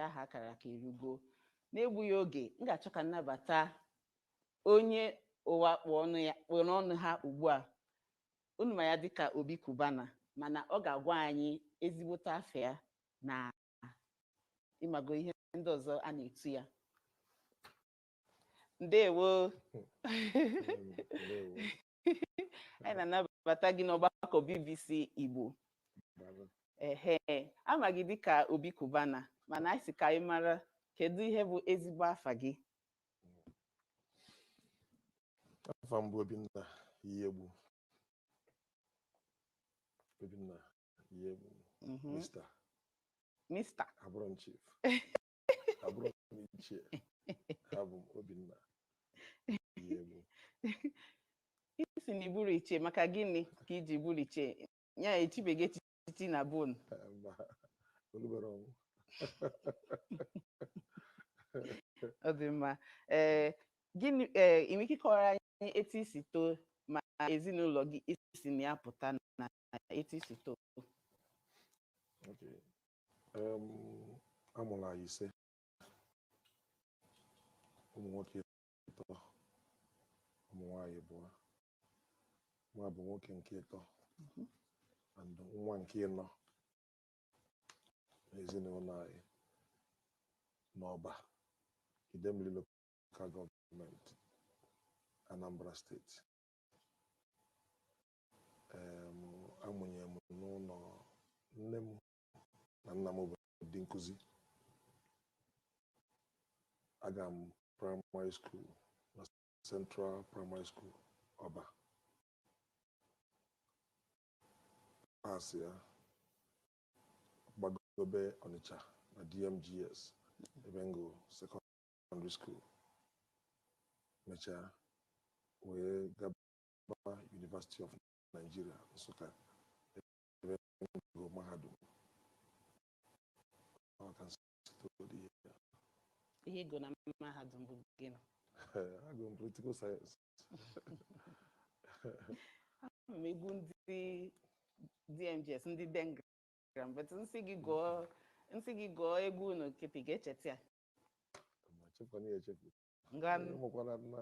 aha a kara aka erugo n'egbughị oge m ga-achọ ka m nabata onye ụwa kpụ ọnụ ya kpụ n'ọnụ ha ugbu a unu ma ya dịka obi cubana mana ọ ga-agwa anyị ezigbote afa ya na ịmago ihe ndị ọzọ a na-etu ya ndewo anyị na-anabata gị n'ọgbakọ bbc igbo ehe a ma gị dịka obi cubana mana anyị sị ka anyị mara kedu ihe bụ ezigbo afa gị afa m bụ obinna iyiegbu obinna iyiegbu Mhm. mista Mr. abụrọ m chief abụrọ m ichie abụ m obinna iyiegbu ị sị na ị bụrọ ichie maka gịnị ka i ji bụrọ ichie ya echibeghị echichi na be unu Eh, mba o lubero ọnwụ ọ dị mma ee gịnị ee ị nwere ike ịkọwara anyị etu i si too ma ezinụlọ gị i si na ya pụta na etu i si too Okay. a mụrụ anyị ise ụmụ nwoke ịtọ ụmụ nwaanyị ịbụọ mụwa bụ nwoke nke ịtọ mhm. and nwa nke ịnọ n'ezinụlọ anyị n'ọba Idemili lokal gọọmenti Anambra steeti Um, a mụnyere m n'ụlọ nne m na nna m bụ ndị nkụzi. Aga m praịmarị skuul na Central Primary School, Ọba. Paasị ya gbagobe Ọnịcha na DMGS ebe m gụrụ sekọndịrị skuul. Mechaa wee gaba University of Nigeria Nsụka ebe m gụrụ mahadum Ọ ka m si toro dị ihe ya. ihe ị gụrụ na mahadum bụ gịnị agụrụ m political science ama m egwu ndị dmgs ndị dengram but m sị gị gụọ m sị gị gụọ egwu unu kịta ị ga-echeta ya ma chefukwana ya echefu ngwa Ee, ụmụkwara na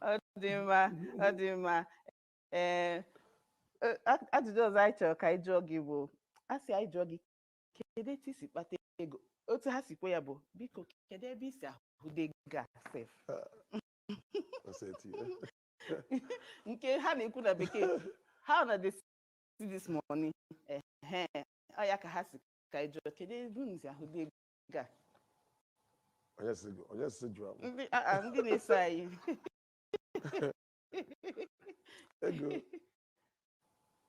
ọ dị mma ọ dị mma ee e, a- ajụjụ ọzọ anyị chọrọ ka anyị jụọ gị bụ a sị anyị jụọ gị kedu etu i si kpata ego otu ha si kwuo ya bụ biko kedu ebe i si ahụde ego a sef nke ha na-ekwu na bekee how una dey see this money ehe ọ ya ka ha si ka anyị jụọ kedu ebe unu si ahụde ego a onye sị gị onye sị jụọ m ndị a- a, ndị na-eso anyị ego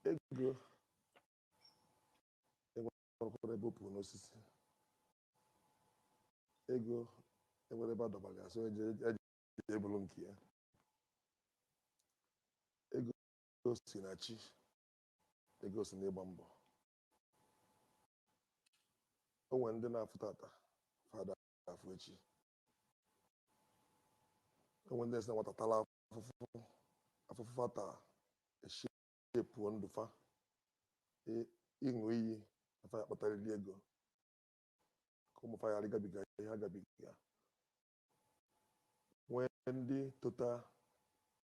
ego enwerọkwa ebe o puru n'osisi ego enwerọ ebe a dọba ga so eje eje ebulu nke ya ego si na chi ego si n'ịgba mbọ o nwere ndị na-afụ tata fa ada afụ echi o nwere ndị na-esi na nwata tala afụfụ afụfụ fata eshepụọ ndụ fa ị- ịṅụ iyi na fa ya-akpatarịrị ego ka ụmụ fa ghara ịgabiga ihe ha gabiga nwee ndị tota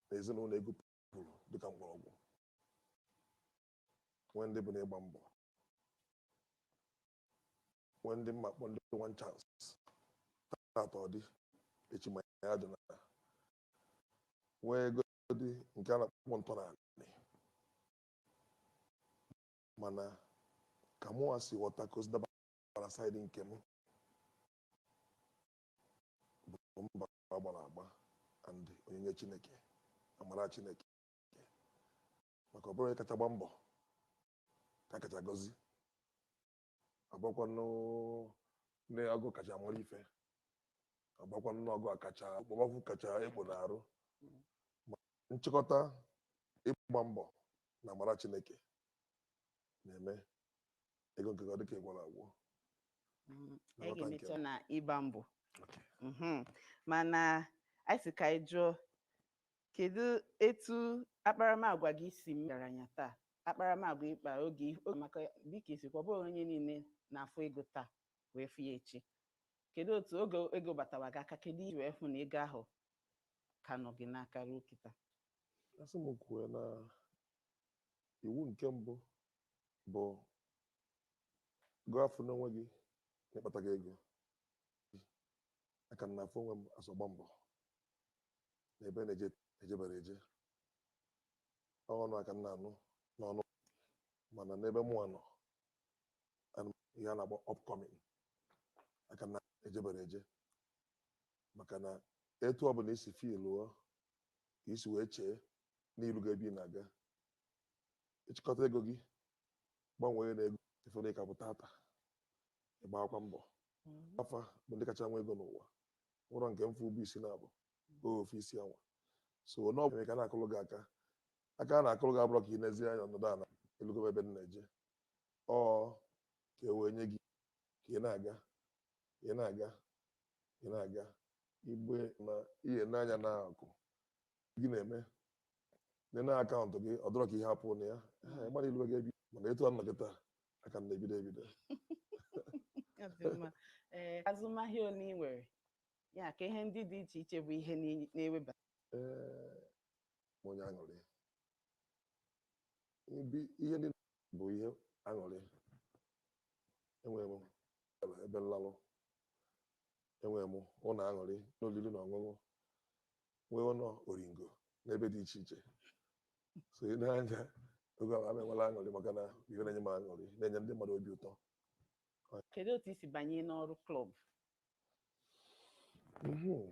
na ezinụlọ ego puru dịka mgbọrọgwụ nwee ndị bụ na ịgba mbọ nwee ndị m na-akpọ ndị one chance taata ọ dị echi ma ya dị na nweegodi nke a na-akpọ ntọ n'anị mana ka mụnwa si ghọta ka o si dabara side nke m bụ mbọ a gbara agba and onyinye chineke amara chineke maka ọ bụrọ onye kacha agba mbọ ka a kacha agọzi agbakwanụ n'ọgụ kacha mara ife agbakwanụ n'ọgụ a kacha okpomọkụ kacha ekpo n'arụ Ma nchịkọta ịgba mbọ na amara chineke na-eme ego nke gị ọ dịka ị gwara agwa Mm, Na anyị ghọta nke ga-emecha na ịgba mbọ Mhm. mana anyị sị ka anyị jụọ kedu etu akparamagwa gị si mechara anya taa akparamagwa ịkpa oge oge maka dịka i si kwuo ọ bụghị onye niile na-afụ ego taa wee fụ ya echi kedu otu oge ego batawa gị aka kedu i ji wee hụ na ego ahụ ka nọ gị n'aka ruo kịta a sị m kwuo na iwu nke mbụ bụ gị afụna onwe gị na ị kpatago ego a ka m na-afụ onwe m as ọgba mbọ na ebe na-ejebere eje ọnụ aka m na-anụ n'ọnụ mana n'ebe mụnwa nọ ihe a na-akpọ upcoming aka m na-ejebere eje maka na etu ọ bụla isi filuo ka i si wee chee na ilugo ebe ị na-aga ị chịkọta ego gị gbanwee na ego ị fụ na ị ka bụ tata ịgbakwa mbọ fa bụ ndị kacha nwe ego n'ụwa nwerọ nke m fụ bu isi na-abụghị ofu isi anwa so onye ọbụla ka na-akụrụ gị aka aka a na-akụrụ gị abụrọ ka ị nezie anya nọdụ ala elugo m ebe m na-eje ọ ka e wee nye gị ka ị na-aga ka ị na-aga ka ị na-aga igbe na ihe n'anya na-akụ gị na-eme nene account gị ọ dọrọ ka ihe pụ na ya ị gbarụọ ilu gị ebi mana etu a nọ kịta aka m na-ebido ebido Ọ dị mma. Ee, azụmahịa ole ị nwere ya ka ihe ndị dị iche iche bụ ihe na- na-eweba Ee, m onye aṅụrị Ibi- ihe ndị bụ ihe aṅụrị enwere m ebe nlalụ enwere m ụlọ aṅụrị na olili na ọṅụṅụ nwee ụlọ oringo n'ebe dị iche iche so ị na-anya oge ahụ ana enwere aṅụrị maka na ife na-enye m aṅụrị na-enye ndị mmadụ obi ụtọ kedu otu i si banye n'ọrụ club Mhm.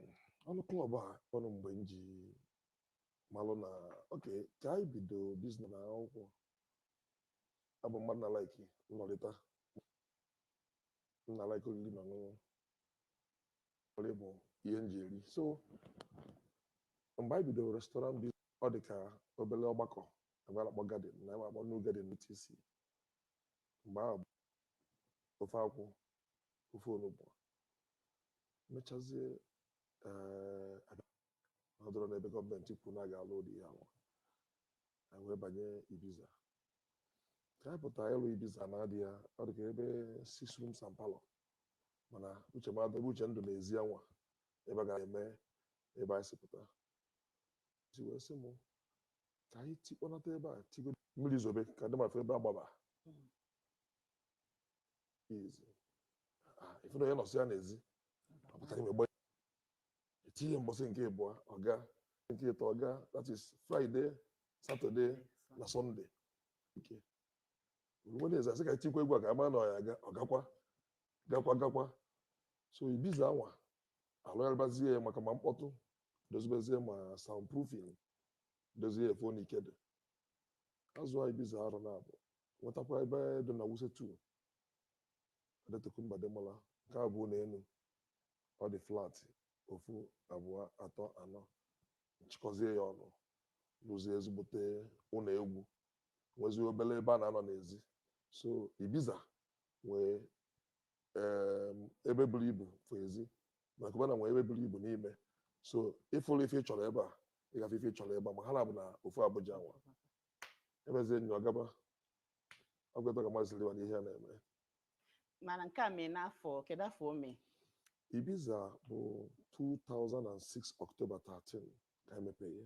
ọrụ club a ọrụ mgbe m ji malụ na okay ka anyị bido business na akwụkwọ abụ m mmadụ na-like nnọrịta m na-like oriri na ọṅụṅụ nri bụ ihe m ji eri so mgbe anyị bidoro restaurant bi ọ dị ka obere ọgbakọ ebe a na-akpọ garden na ebe a na-akpọ new garden UTC mgbe ahụ bụ ofe akwụ ofe onugbu mechazie ee ọ dụrụ n'ebe gọọmenti kwuru na a ga-alụ ụdị ihe anwa anyị wee banye ibiza ka anyị pụtara ịlụ ibiza na adị ya ọ dị ka ebe six rooms and parlor mana uche m dụ ebe uche m dụ n'ezi anwa ebe a ga eme ebe anyị si pụta si wee sị m ka anyị tikpọnata ebe a tigo mmiri zobe ka ndị mmadụ fụ ebe a gbaba izi Ah, ife na onye nọsị ya n'ezi ọ bata ime gbanye etinye mbọsị nke ịbụọ ọ gaa nke ịtọ ọ gaa that is friday saturday na sunday nke O ruo Wednesday asị ka etikwa egwu a ka ama na ọ ya aga ọ gakwa gakwa gakwa so ibiza anwa alụgharịbazie ya maka ma mkpọtụ dozibezie ma soundproofing dozie ife na ike dị azụ a ibiza arọ naabọ nwetakwa ebe dị na wuse 2 Adetokunbo Ademola nke a bụ ụlọ elu ọ dị flat ofu abụọ atọ anọ m chịkọzie ya ọnụ rụzie ezigbote ụlọ egwu nwezie obere ebe a na-anọ n'ezi so ibiza nwee em, ebe buru ibu fụ ezi ma Cubana nwee ebe buru ibu n'ime so ị fụrọ ife ị chọrọ ebe a ị ga-afụ ife ị chọrọ ebe a ma ha naabọ na ofu Abuja anwa emezie nyo agaba agwata ka mazị liwa n'ihe a na-eme mana nke a mee n'afọ kedu afọ o mee ibiza bụ 2006 ọktoba 13 ka emepeghe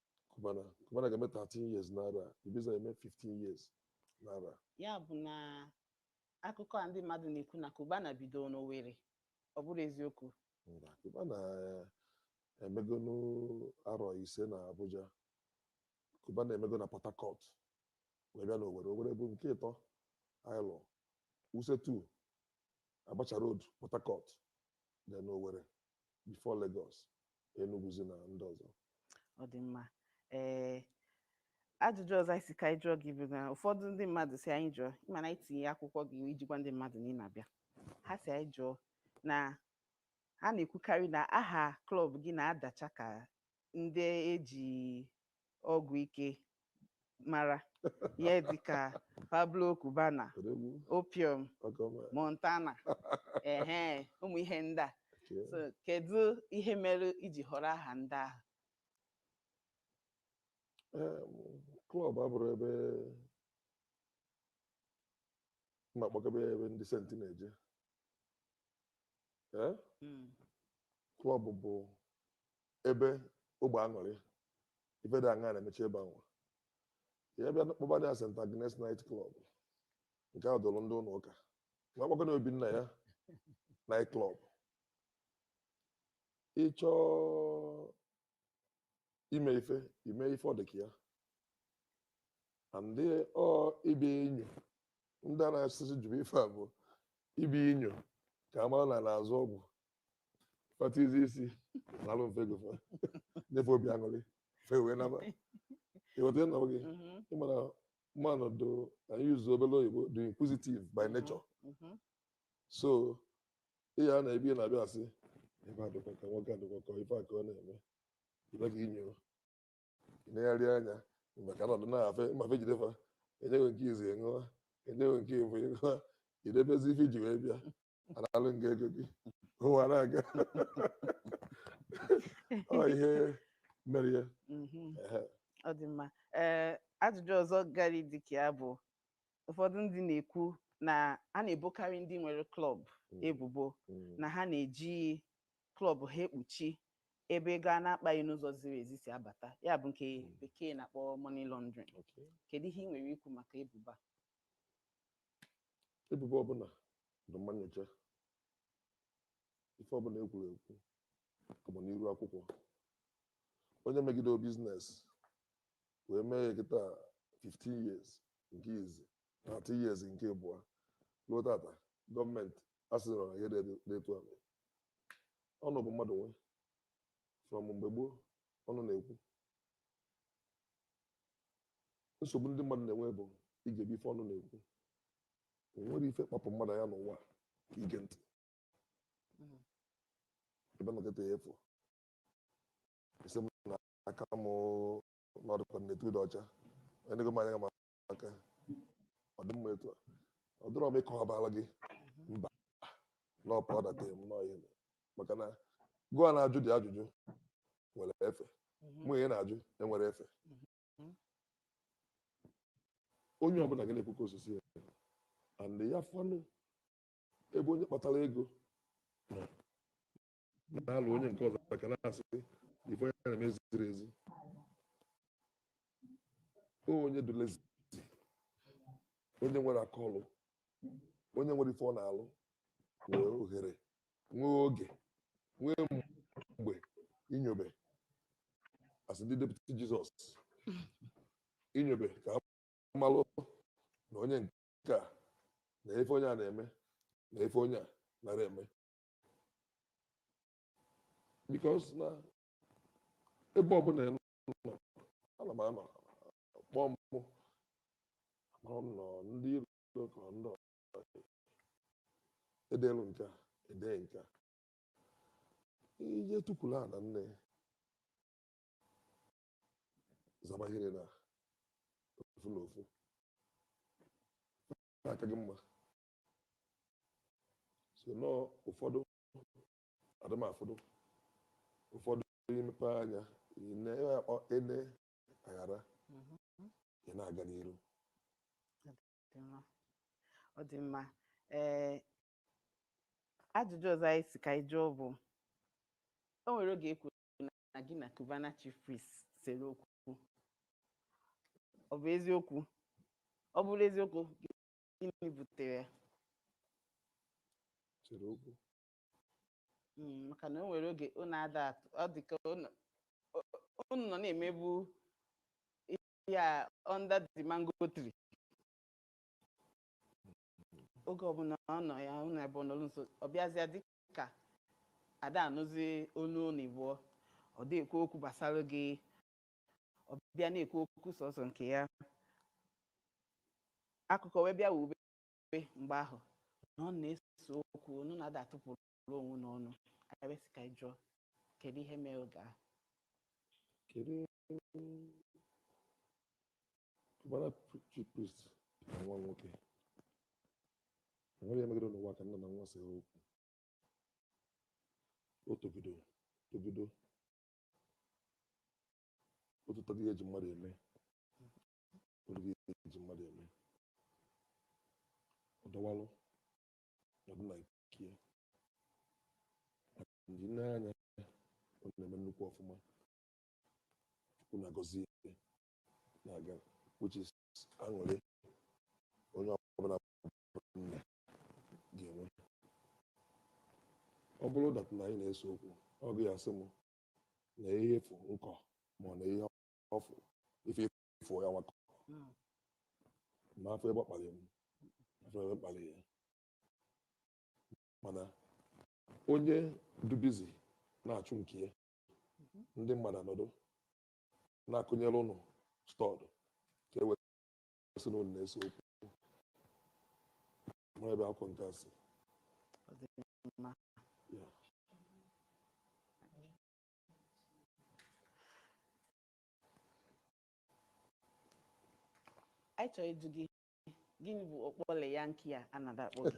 Cubana Cubana ga-eme 13 years n'arọ a Ibiza eme 15 years n'arọ a ya bụ na akụkọ a ndị mmadụ na-ekwu na Cubana bidoro n'Owerri ọ bụrọ eziokwu mba Cubana eh, emegonu arọ ise na Abuja Cubana emego na Port Harcourt wee bịa n'Owere Owere bụ nke ịtọ anyị lụrụ Wuse 2 Abacha Road Port Harcourt then Owere before Lagos, Enuguzi na ndị ọzọ. ọ dị mma ee ajụjụ ọzọ anyị sị ka anyị jụọ gị bụ na ụfọdụ ndị mmadụ sị anyị jụọ ị ma na anyị tinye akwụkwọ gị iji gwa ndị mmadụ na ị na-abịa ha sị anyị jụọ na ha na-ekwukarị na aha klọb gị na-adacha ka ndị eji ọgwụ ike mara ihe dịka Pablo Cubana Odogwu, opium ọkọ ọma. Montana ehe ụmụ ihe ndị a Okay. So, kedu ihe mere i ji họrọ aha ndị ahụ Em, klọb abụrọ ebe m ga-akpọ ka ebe ebe ndị saint na-eje Eh, Mm, klọb bụ ebe ọgbọ aṅụrị ife dị aṅaa na-emecha ebe anwa ya bịa kpọba ya St. Agnes Night Club nke a dịrị ndị ụlọ ụka ma akpọkọ na Obinna ya Night Club ị chọọ ime ife i mee ife ọ dị ka ya and ọ ibe inyo ndị a na-asịsị jụrụ ife a bụ ibe inyo ka a mara na na-azụ ọgwụ fatizi isi nalụ mfe go fa nye fa obi aṅụrị fa wee naba ịghọta ịnọ gị Mhm, ị mara mmadụ dụ na yuzu obere oyibo dị inquisitive by mhm, nature mhm. so ihe a na-ebi na-abịa asị ebe a dịkwa ka nwoke a dịkwa ka ife a ka ọ na-eme ibe ka inyo ịnegharị anya maka na ọdụ na-afe mmafe jide fa e nye gị nke izi ị ṅụa e nye gị nke efu ị ṅụa i debezie ife i ji wee bịa a nalụ gị ego gị ụwa ana-aga ọ ihe mere ya Mhm. Ehe. ọ dị mma ee ajụjụ ọzọ gara dịka ya bụ ụfọdụ ndị na-ekwu na a na-ebokarị ndị nwere klọb Mm. ebubo Mm. na ha na-eji klọb ha ekpuchi ebe ego a na-akpaghị n'ụzọ ziri ezi si abata ya bụ nke Mm. bekee na-akpọ money laundering Okay. kedu ihe ị nwere ikwu maka ebubo a? ebubo ọbụla dị mma nyocha ife ọbụla e kwuru ekwu bụ n'iru akwụkwọ onye megide business wee mee ya kịta 15 years nke izi 30 years nke ịbụa luo tata gọọmenti asịrọ na ihe dị etu a mee ọnụ bụ mmadụ nwe from mgbe gboo ọnụ na-ekwu nsogbu ndị mmadụ na-enwe bụ igebe ife ọnụ na-ekwu o nwerọ ife kpapụ mmadụ anya n'ụwa ka ige ntị Mhm. ebe nọ kịta ya efu isi m na aka m n'ọdụkọ na etu ọ dị ọcha onye nego m anya ma aka ọ dị mma etu a ọ dịrọ m ịkọwabara gị mba n'ọpa ọdata m n'ọhịa maka na gụwa na-ajụ dị ajụjụ enwerọ efe mhm. mụ ị na-ajụ enwerọ efe mhm. onye ọbụla ga na-ekwu ka o si si ya and ya fanụ ebe onye kpatara ego na-alụ onye nke ọzọ ka na-asị ife onye na-eme ziri ezi onye dụ lazy onye nwerọ aka ọlụ onye nwerọ ife ọ na-alụ nwere ohere nwee oge nwee mgbe inyobe asị ndị deputy Jesus inyobe ka ha malụ na onye nke a na ife onye a na-eme na ife onye a narọ eme because na ebe ọbụla ị nọ ana m anọ kpọọ m mụ akpọrọ m nọ ndị iro ka ndị edelụ nke a edee nke a i je tukwuru ana nne zabahiri na ofu na ofu aka gị mma so nọọ ụfọdụ adị mma ụfọdụ ụfọdụ i mepe anya ine akpọ ene aghara ị na-aga n'iru ọ dị mma ee ajụjụ ọzọ anyị si ka anyị jụọ bụ o nwere oge e kwuru na gị na Cubana chief priest sere okwu ọ bụ eziokwu ọ bụrụ eziokwu gịnị butere ya sere okwu Mm, maka na o nwere oge unu ada atụ ọ dị ka unu unu nọ na-emebu ya under the mango tree oge ọbụla ọ nọ ya ụlọ ebe ọ nọrọ nso ọ bịazịa dị ka ada anụzi onu unu ịbụọ ọ da ekwu okwu gbasara gị ọ bịa na-ekwu okwu sọsọ nke ya akụkọ wee bịa wube mgbe ahụ na unu na-ese okwu unu ada atụpụrụ onwe unu ọnụ anyị wee sị ka anyị jụọ kedu ihe mere oge ahụ kedu Cubana chief priest na nwa nwoke. Enwere ya megide n'ụwa ka nna na nwa sere okwu. O togide, togide. O totadị ihe eji mmadụ eme. O ruru ihe eji mmadụ eme. Ọ dọwalụ nọdụ na nke ya. Ndị nee anya ọ na-eme nnukwu ọfụma. chukwu na-agọzi ya na-aga which is aṅụrị onye ọbụla nne ga-enwe ọ bụrụ that na anyị na-ese okwu ọ gị asị m na ihe efu nkọ ma ọ na ihe ọfụ ife efu ya nwakọ ma afụ ebe ọ kpalị m afụ ebe m kpalị ya mana onye dubizi na-achụ nke ya ndị mmadụ anọdụ na-akọnyere ụnụ story ka e wee sị na ụnụ na-ese okwu ma ebe akụkọ nke a si Ọ dị mma. Ya. anyị chọrọ ịjụ gị gịnị bụ okpole ya nke a a na-ada akpọ gị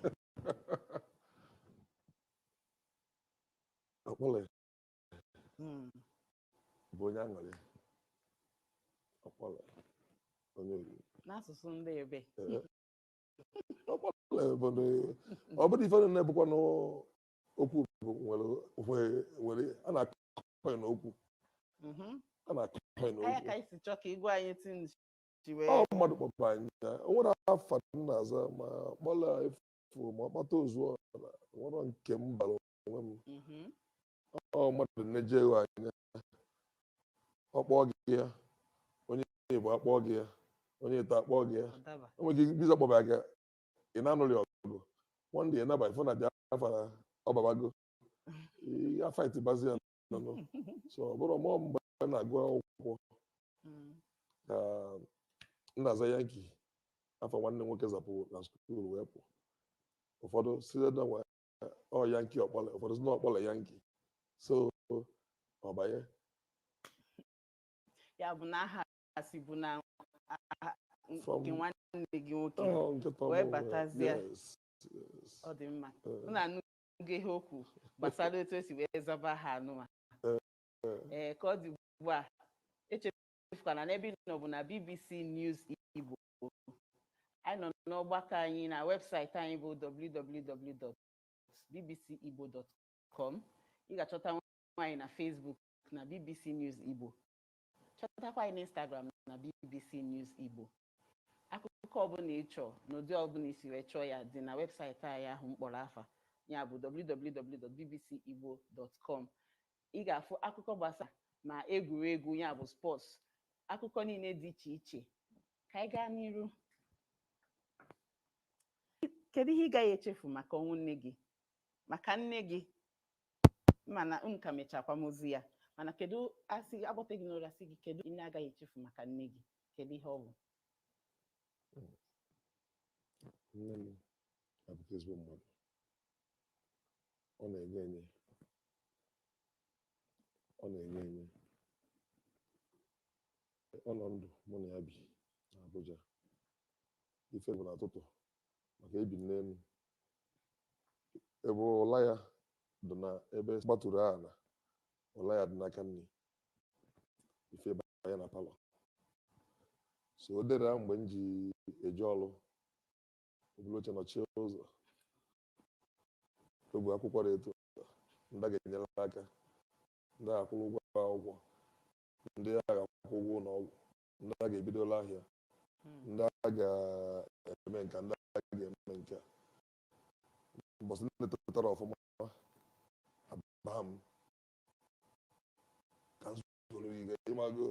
okpole Mm. bụ onye aṅụrị Okpole onye oriri n'asụsụ ndị ebe Okpole bụ ndị ọ bụrụ ife niile bụkwa n'okwu bụ nwere nwere- nwere a na-akọ ya n'okwu Mhm. a na-akọ ya anya n'okwu ka anyị si chọọ ka igwe anyị tinji wee ọ mmadụ kpọpụ anyị ya o nwere afa m na-aza ma Okpole efu ma ọkpata ozuo ọra o nwerọ nke m bara onwe m Mhm. ọ mmadụ na-ele gị anya ọ kpọọ gị ya onye igbo akpọọ gị ya onye ite akpọọ gị ya Ọ daba. o nwere ike bịa kpọba gị ị na-anụrị ọgụ one day naba ị fụ na dị afa na ọbabago ya fight bazi ya no so ọ bụrọ mụ ọ mgbe a na-agụ akwụkwọ Mm. ka m na-aza Yankee afa nwanne m nwoke zabu na school wee pụ ụfọdụ sị na nwa ọ Yankee Okpole ụfọdụ sị na Okpole Yankee so ọ banye ya bụ na aha sibu na aha From- nke nwanne gị nwoke Ọ, nkịta Wee ọmụ, batazie. yes, yes. ọ dị mma Eh, unu anụgo ihe o kwuru gbasara otu o si wee zaba aha nụnwa ee ka ọ dị ugbu a echefukwana n'ebe ị nọ bụ na BBC News Igbo anyị nọ n'ọgbakọ anyị na webụsaịtị anyị bụ www.bbcigbo.com ị ga-achọtanwu anyị na Facebook na BBC News Igbo chọtakwa anyị n'Instagram na BBC News Igbo akụkọ ọbụla ị chọọ n'ụdị ọbụla i si wee chọọ ya dị na webụsaịtị anyị ahụ mkpọrọ afa ya bụ www.bbcigbo.com ị ga-afụ akụkọ gbasara ma egwuregwu ya bụ sports akụkọ niile dị iche iche ka anyị gaa n'iru kedu ihe ị gaghị echefu maka ọnwụ nne gị maka nne gị m ma na unu ka mecha akwamozu ya mana kedu a sị a kpọtee gị n'ụra sị gị kedu ihe ị gaghị echefu maka nne gị kedu ihe ọ bụ nne m bụrị ezigbo mmadụ ọ na-enye enye ọ na-enye enye ọ nọ ndụ mụ na ya bi na Abuja ife bụ n'ụtụtụ maka e bi n'elu ebe ụla ya dị na ebe gbatụrụ ala ụla ya dị n'aka nni i fee banye na palọ so o dere mgbe m ji eje ọrụ o bulu oche nọchie ụzọ o bu akwụkwọ dị etu a, ndị a ga-enyere aka ndị a ga-akwụrụ ụgwọ akwụkwọ ndị a ga-akwụ ụgwọ ụlọ ọgwụ ndị a ga-ebidolu ahịa ndị a ga-eme nke a, ndị a ga-eme nke a mbọsị ndị tetara ọfụma abaa m ka m zuru ike ị mago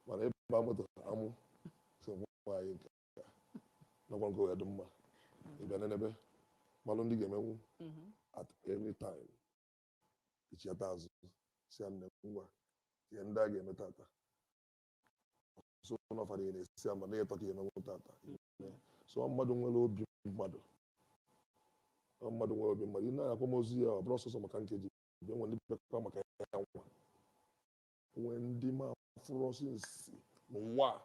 mana ịba moto amụ so nwaanyị nke nakwa nke ya dị mma ịbịa n'ebe malụ ndị ga-emenwu at any time i chiata azụ sị ya nne ngwa ihe ndị a ga-eme tata so n'ọfara ihe na-esi ama na ịtọ ka ihe emenwu tata so ọ mmadụ nwere obi mmadụ ọ mmadụ nwere obi mmadụ ị na-akwa ozu ya ọ bụrụ ọsọ ọsọ maka nkeji bịa nwere ndị bịakwa maka ya nwa nwee ndị m afụrọ ọsọ nsi n'ụwa a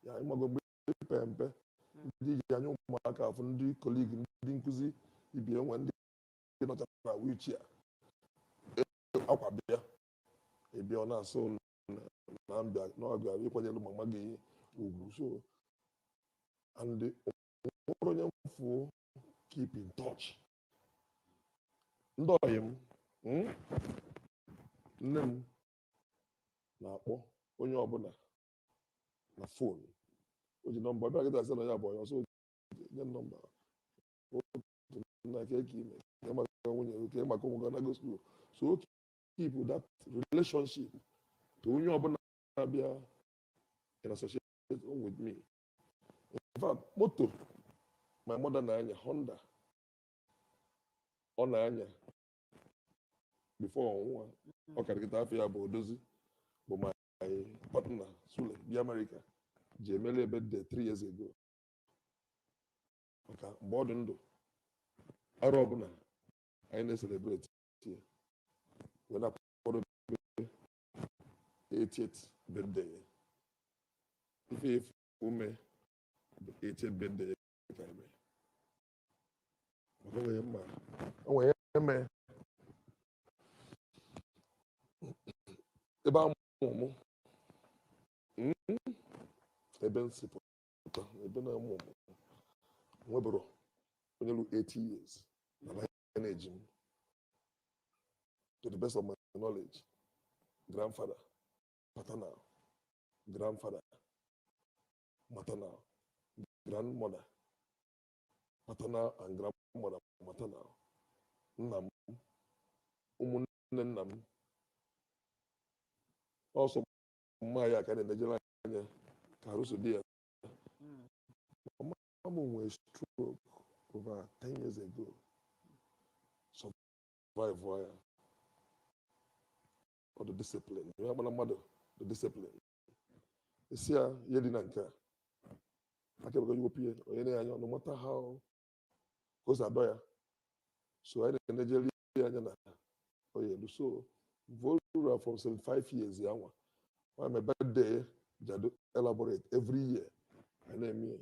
ya ị mago mgbe i pe mpe ndị i ji anya ụmụaka afụ ndị colleague ndị nkụzi ibe ya nwee ndị nọchara na wheelchair akwa bịa ị bịa ọ na-asị na m bịa na ọ bịara ịkwanyere mama gị ugwu so and nwere onye m fụ keep in touch ndị ọyị m mm, nne m na-akpọ onye ọbụla na fon o ji nọmba bịa kịta sị na ya bụ onye ọ sị nye m nọmba na nke ka i me kee maka nwunye gị kee maka ụmụ gị na school so o keep that relationship to onye ọbụla na-abịa in association with me in fact moto my mother na-anya Honda ọ na-anya before ọ nwụọ ọ ka dị kịta afa ya bụ Odozi bụ my my partner Sule bi Amerịka ji emere ya birthday three years ago maka mgbe ọ dị ndụ arọ ọbụla anyị na-eselebreti ya wee na-akwado 80th birthday ya ife efu ume bụ 80th birthday ya ka eme ebe a mụ mụ hmm? ebe m si pụta ebe a nọ mụọ mụ nweberọ onye lu 80 years na lineage m to the best of my knowledge grandfather paternal grandfather maternal grandmother maternal and grandmother maternal nna m ụmụnne nna m ọ sọ mma ya ka na-enejere anya ka arụ si dị ya mama m nwere stroke over 10 years ago survive ya ọ dị discipline ya gbara mmadụ dị discipline ị sị ya elina nke a aka ebe iwepụ ihe onye na anya no matter how ka o si adọ ya so anyị na-enejeri ya anya na onye elu so virtually from 75 years ya nwa nwa my birthday ya dị elaborate every year anyị na-eme ya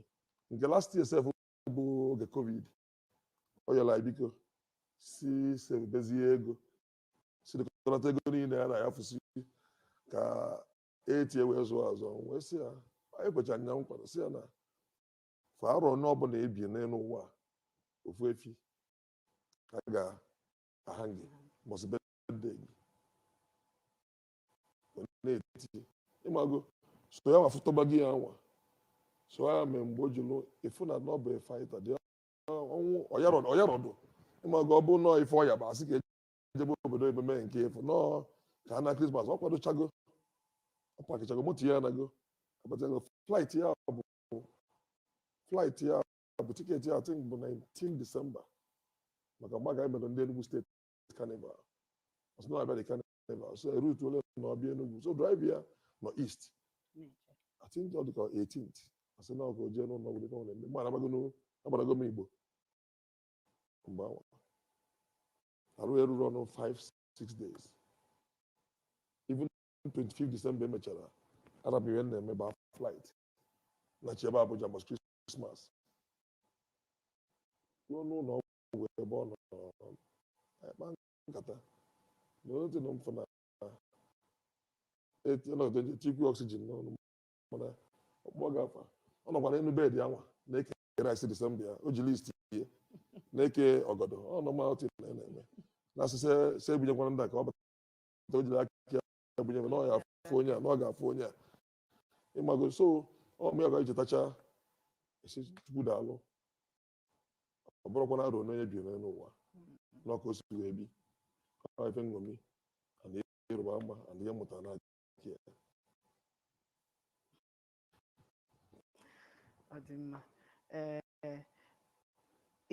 nke last year sef bụ oge covid ọ yọla anyị biko sị savebezie ego sirikọlata ego niile a na-ayafụsi ka e tie wee zụọ azụ wee sị ya anyị kwecha ya nkwa sị ya na kwa arọ ọbụla i bi n'elu ụwa ofu efi ka a ga-aha gị mbọsị birthday gị wee na-eti ịmago so ya ma fụtọba gị ya nwa so ya mee mgbe o jilu ịfụ na ọ bụ fighter dị ọnwụ ọ yarọdụ ịmago ọ bụ nọọ ife ọya bụ a sị ka e jebe obodo oyibo mee nke ịfụ nọọ ka a na krismas ọ kwadochago ọ pakichago moto ya anago abatago flight ya bụ flight ya bụ tiketi ya I think bụ 19 December maka mgbe a ga-emere ndị Enugu steeti carnival ọ sị na abịa dị carnival so erute ole na ọ bịa Enugu so driver ya nọ east I think ọ dịka 18th a sị na ọkụ jee n'ụlọ ọgwụ dịka ọ na-eme mgbe agbarago m Igbo mgbe ahụ arụ eruru ọ nọ 5 6 days even 25 December emechara arapụ ihe na-eme ba flight nachibe Abuja mbọsị Christmas ruo n'ụlọ ọgwụ ebe ọ nọ nkata na onye tụrụ m fụ na ọnọdụ eji etikwu oxygen n'ọnụ mana ọ kpọ gị afa ọ nọkwa n'elu bed ya nwa na-eke rice disemba ya o ji list ihe na-eke ọgọdọ ọ normal thing ọ na-eme na asịsị se ebunyekwana ndị a ka ọ bata o jiri aka ya ebunye na ọ ya afụ onye a na ọ ga-afụ onye a ịmago so ọ mụ ya ga echetacha a sị chukwu daalụ ọ bụrọkwa na arọ one onye bi n'elu ụwa na ọ ka o si wee bi ọ ife nṅomi and ịrịba ama and ihe mụtara na aka ya ọ dị mma ee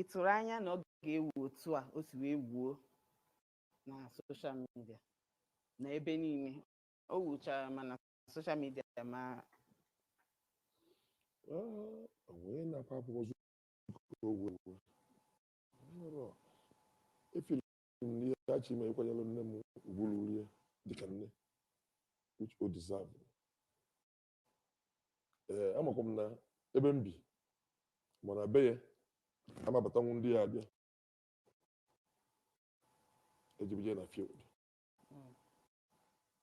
ị tụrụ anya na ọ ga-ewu otu a o si wee wuo na social media na ebe niile o wuchara mana social media ma onye na-akwa akwụkwọ zuru ogwe egwu nrọ efiri m n'ihe achọ ime ịkwanyere nne m ugwu ruru ya dịka nne which ọ deserve ee amakwa m na ebe m bi ma na be ya ama abatanwu ndị ya-abịa e ji bịa jee na field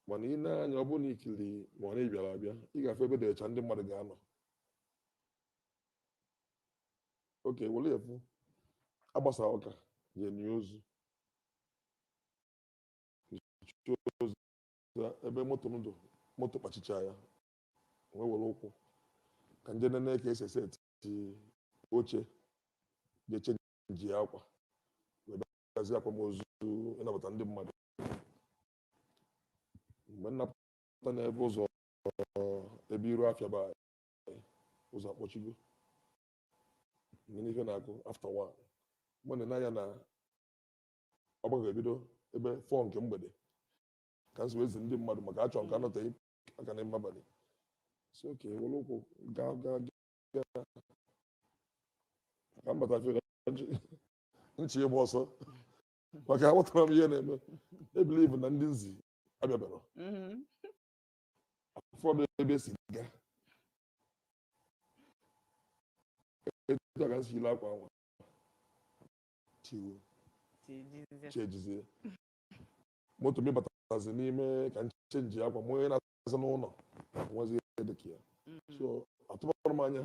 mana i nee anya ọ bụrụ na i kiri ma ọ na ị bịara abịa ị ga-afụ ebe dị ọcha ndị mmadụ ga-anọ okay were ya fụ a gbasaa ụka je eni ozu nichaa ozu ya, ebe moto m dị moto kpọchichaa ya wee were ụkwụ ka m je nene ka e si eseti oche jee chenjie akwa wee bịa gazi akwamozu ịnabata ndị mmadụ mgbe m na-apụta n'ebe ụzọ ebe iru afịa Ọba ụzọ akpọchigo mgbe n'ife na-akụ after one m na-ene anya na ọgbakọ ga-ebido ebe four nke mgbede ka nso ezi ndị mmadụ maka achọ m ka a nọteghị aka n'ime abalị sị okay were ụkwụ gaa gaa gaa ka m bata fere nchi ịgba ọsọ maka aghọtara m ihe na-eme I believe na ndị nzi abịa bịara Mhm. ụfọdụ ebe si ga etu a ka m si yili akwa nwa chenjizie moto m batazi n'ime ka m chenjie akwa ma onye na-aza n'ụlọ nwazi ihe dị ka ya so atụbarọ m anya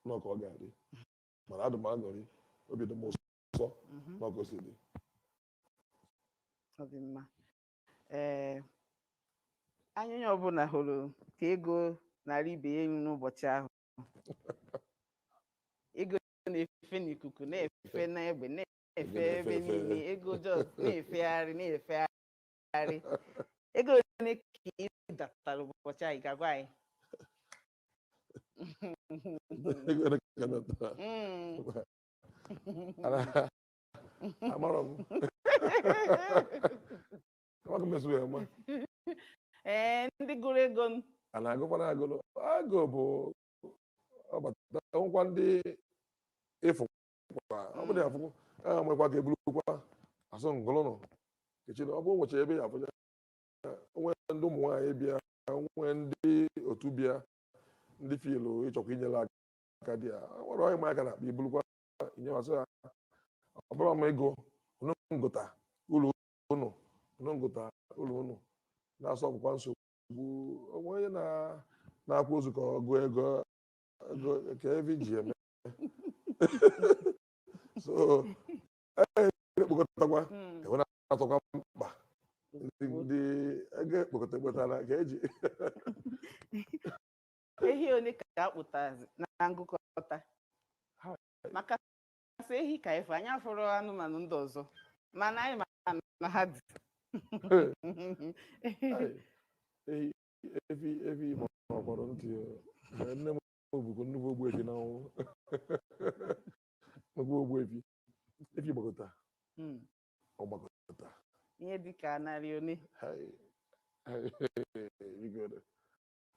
na ọ ka ọ ga-adị mana adị m aṅụrị obi dị m ụsọ Mhm. ma ka o si dị ọ dị mma ee anya onye ọbụla hụrụ ka ego na-arị ibe ya elu n'ụbọchị ahụ ego na-efe n'ikuku na-efe n'egbe na-efe Ego na-efe ebe efe. niile ego just na-efegharị na-efegharị ego ole ka ị datara ụbọchị ahụ ị ga-agwa anyị amarọ m amaghị m esu ya ma ee ndị gụrụ ego n- a na-agụkwana agụrụ agụ bubata nwekwa ndị ịfụ kwa ọ bụrụ ya afụ a nwekwa ka eburukwa asụ ngụlụnụ kechiri ọ bụ ụbọchị ebe ya afụ ya nwee ndị ụmụ nwaanyị bịa nwee ndị otu bịa ndị filu ịchọkwa inyere aka dị ya nwere onye maka na akpa ibulukwa inyemasị ya ọ bụrụ ma ego unu ngụta ụlọ unu unu ngụta ụlọ unu na-asọ ọgwụkwa nsogbu o nwee onye na- na-akwa ozu ka ọ gụọ ego ego ka evi ji eme so ekpokọtakwa enwe na-atọkwa mkpa ndị ndị ego ekpokọta ekpotara ka eji ehi ole ka a kpụtazi na ngụkọta Ha- maka sọ ehi ka ife anyị afụrọ anụmanụ ndị ọzọ mana anyị ma na ha dị ehi efi efi ma ọ kpọrọ ntị ya. nne m bụkwa nnukwu ogbuefi na ọnwụ nnukwu ogbuefi efi gbakọta Hmm. ọ gbakọta ihe dịka narị ole Hai. Hai. Biko,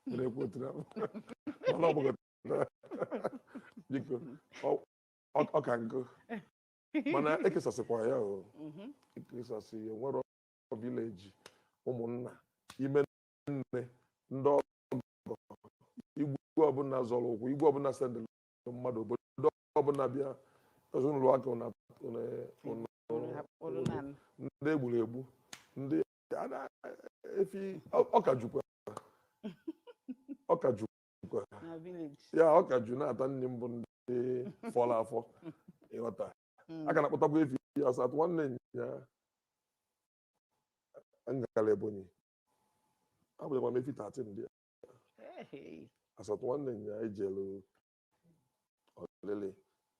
were ekwu otu ahụ. Mana ọ gbakọta biko ọ- ọ- ọ ka nkụ mana ekesasịkwa ya o Mhm. ekesasị ya nwere village ụmụnna ime nne ndị ọgọ igwe ọbụla zọrọ ụkwụ igwe ọbụla sendịrị mmadụ obodo ọbụla bịa ezinụlọ aka ụna ụna ụna Unu hap- unu na- ndị egburu egbu ndị a na- efi ọ ka jukwa ọ ka jukwa na village. ya ọ ka ju na-ata nri mbụ ndị fọrọ afọ ịghọta Mm. a ka na-akpụtakwa efi as at nwanne nya m gara Ebonyi abụghịkwa m efi 13 ndị a Hey. as at nwanne nya anyị jere olili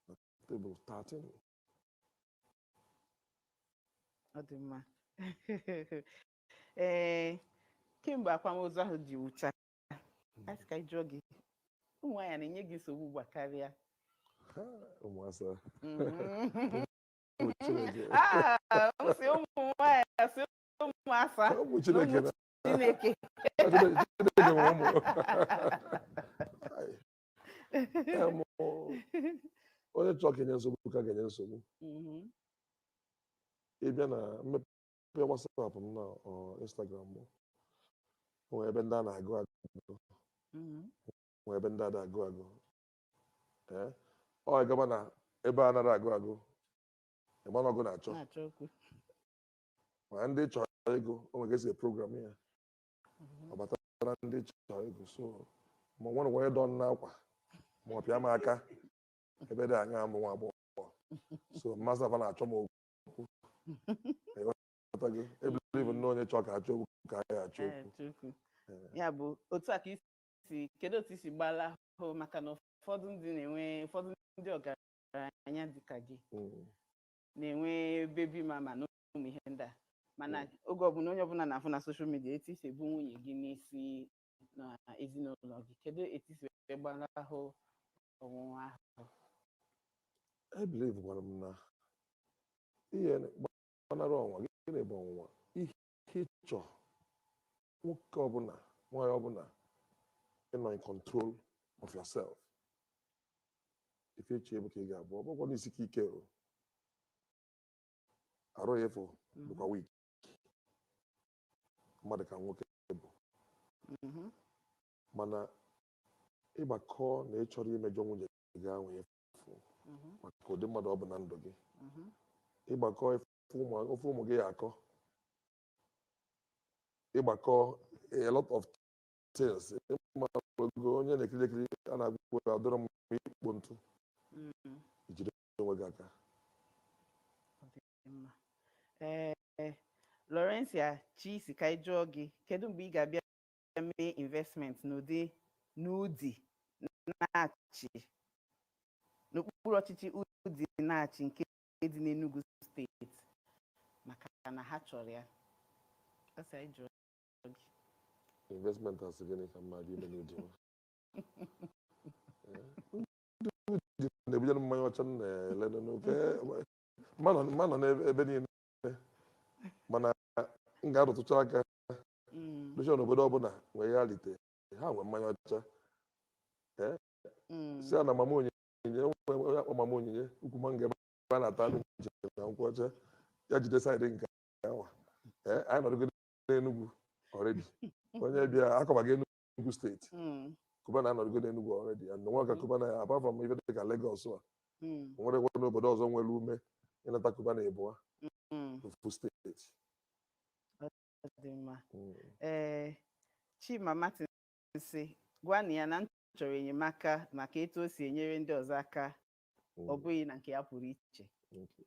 na tebụl 13 ọ dị mma ee kemgbe akwamozu ahụ ji gwụcha a sị ka anyị jụọ gị ụmụ nwaanyị a na-enye gị nsogbu ugbu a karịa Ha, ụmụ asa Mhm. ụmụ Chineke Ah, m sị ụmụ nwaanyị a, sị ụmụ asa ụmụ Chineke na- Chineke. onye chọọ ka e nye nsogbu ka a ga-enye nsogbu mhm. ị bịa na m mepee WhatsApp m na Instagram m nwee ebe ndị a na-agụ agụ mhm. nwee ebe ndị anaghị agụ agụ ọ gaba na ebe anarọ agụ agụ ị ma na ọ gị na-achọ ma ndị chọrọ ego o nwere ka e si program ya ọ batara ndị chọrọ ego so ma nwere onye dọ m n'akwa ma ọ pịa m aka ebe dị anya m bụ nwa agbọghọ so mmasị afa na-achọ m okwu Ịghọtago? I believe na onye chọọ ka achọ okwu ka anyị achọ Ee, okwu Chukwu. Ee. ya bụ otu a ka i si kedu otu i si gbalahụ maka na ụfọdụ ndị na-enwe ụfọdụ ndị ọgaranya dịka gị Mm. na-enwe baby mama na ụmụ ihe ndị a mana oge ọbụla onye ọbụla na-afụ na soshal midia etu i si ebu nwunye gị n'isi na ezinụlọ gị kedu etu i si wee gbanahụ ọnwụnwa ahụ I believe gwara m na ihe gbanara ọnwụnwa gịnị bụ ọnwụnwa ihe Ịchọ nwoke ọbụla nwaanyị ọbụla ịnọ in control of yourself ife e che bụ ka ị ga-abụ ọ bụkwa n'isi ka ike o arụ ya efu bụkwa weak mmadụ ka nwoke bụ Mhm. mana ị gbakọọ na ị chọrọ imejọ nwunye gị ahụ efu Mhm. maka ụdị mmadụ ọ bụ na ndụ gị Mhm. ị gbakọọ efu ife ụmụ gị ya-akọ ị gbakọọ a lot of things ị mago onye na-ekiri ekiri a na-agwụ adọrọ m ikpo ntụ i jide onwe gị aka ee Laurencia Chi sị ka anyị jụọ gị kedu mgbe ị ga-abịa mee investment n'Udi n'Udi Nachi n'okpuru ọchịchị Udi Nachi nke nke dị n'Enugu steeti maka na ha chọrọ ya ọ sị anyị jụọ gị investment a sị gịnị ka mma gị ime n'Udi na-ebujere mmanya ọcha m na-ele n'ofe m ma-anọ n'ebe niile mana m ga-arụtụcha aka be sure na obodo ọbụla nwere elite ha nwee mmanya ọcha si a na Mama Onye Onyinye onye akpọ Mama Onyinye ukwu mango ebe a na-ata anụ nchi na nkwụ ọcha ya jide side nke awa ee anyị anọdụgo n'Enugwu already onye bịa akọbaga Enugwu steeti Mm, Cubana anọdụgo n'Enugwu already ya nwa ka Cubana ya apart from ife dị ka Lagos a mm, nwere kwa n'obodo ọzọ nwere ume ịnata Cubana ịbụa mm. ofu steeti Ọ dị mma. Mm. Ee, Chima Martin sị gwanụ ya na m chọrọ enyemaka maka etu o si enyere ndị ọzọ aka ọ Mm, bụghị na nke ya pụrụ iche okay.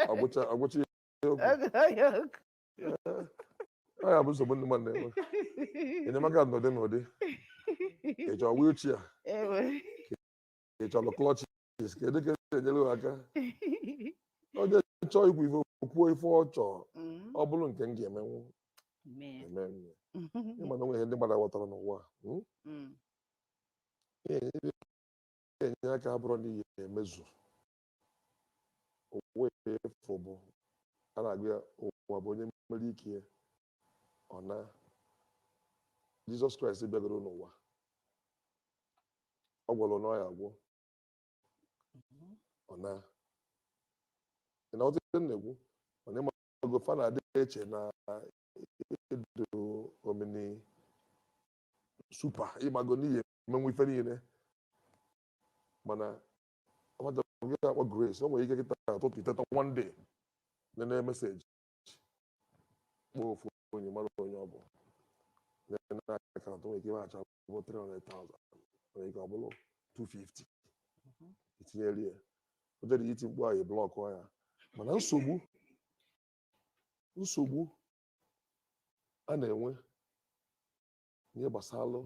Ọ gwụcha ọ gwụcha ihe okwu. Ọ ya bụ nsogbu ndị mmadụ na-enwe. Enyemaka n'ụdị n'ụdị. Ị chọọ wheelchair, Ewe. ị chọrọ crutches kedu ka esi enyere gị aka onye chọọ ikwu ife kwuo ife ọ chọọ Mm, ọ bụrụ nke m ga-emenwu emee m ya. Ị ma na o nwe ihe ndị mmadụ ghọtara n'ụwa a, mm? Mm, Ihe ndị na-enye aka abụrọ na ihe emezu ụwa efu bụ a na-agụ ya ụwa bụ onye mere ike ya ọ na Jesus Christ bịagoro n'ụwa ọ gwọrọ na ọya agwọ ọ na ị na ọtụtụ ndị na-ekwu mana ịmago fa na-adị eche na ị dụ omni super ịmago na ị ya-emenwu ife niile mana ọmata gị akpọ grace o nwere ike kịta ụtụtụ i teta one day nene message kpọọ ofu onye ị marọ onye ọ bụ nene account nwere ike ihe a chọ bụ 300,000 nwere ike ọ bụrụ 250 i tinyere ya o jere iti mkpu ahụ block ya mana nsogbu nsogbu a na-enwe n'ihe gbasara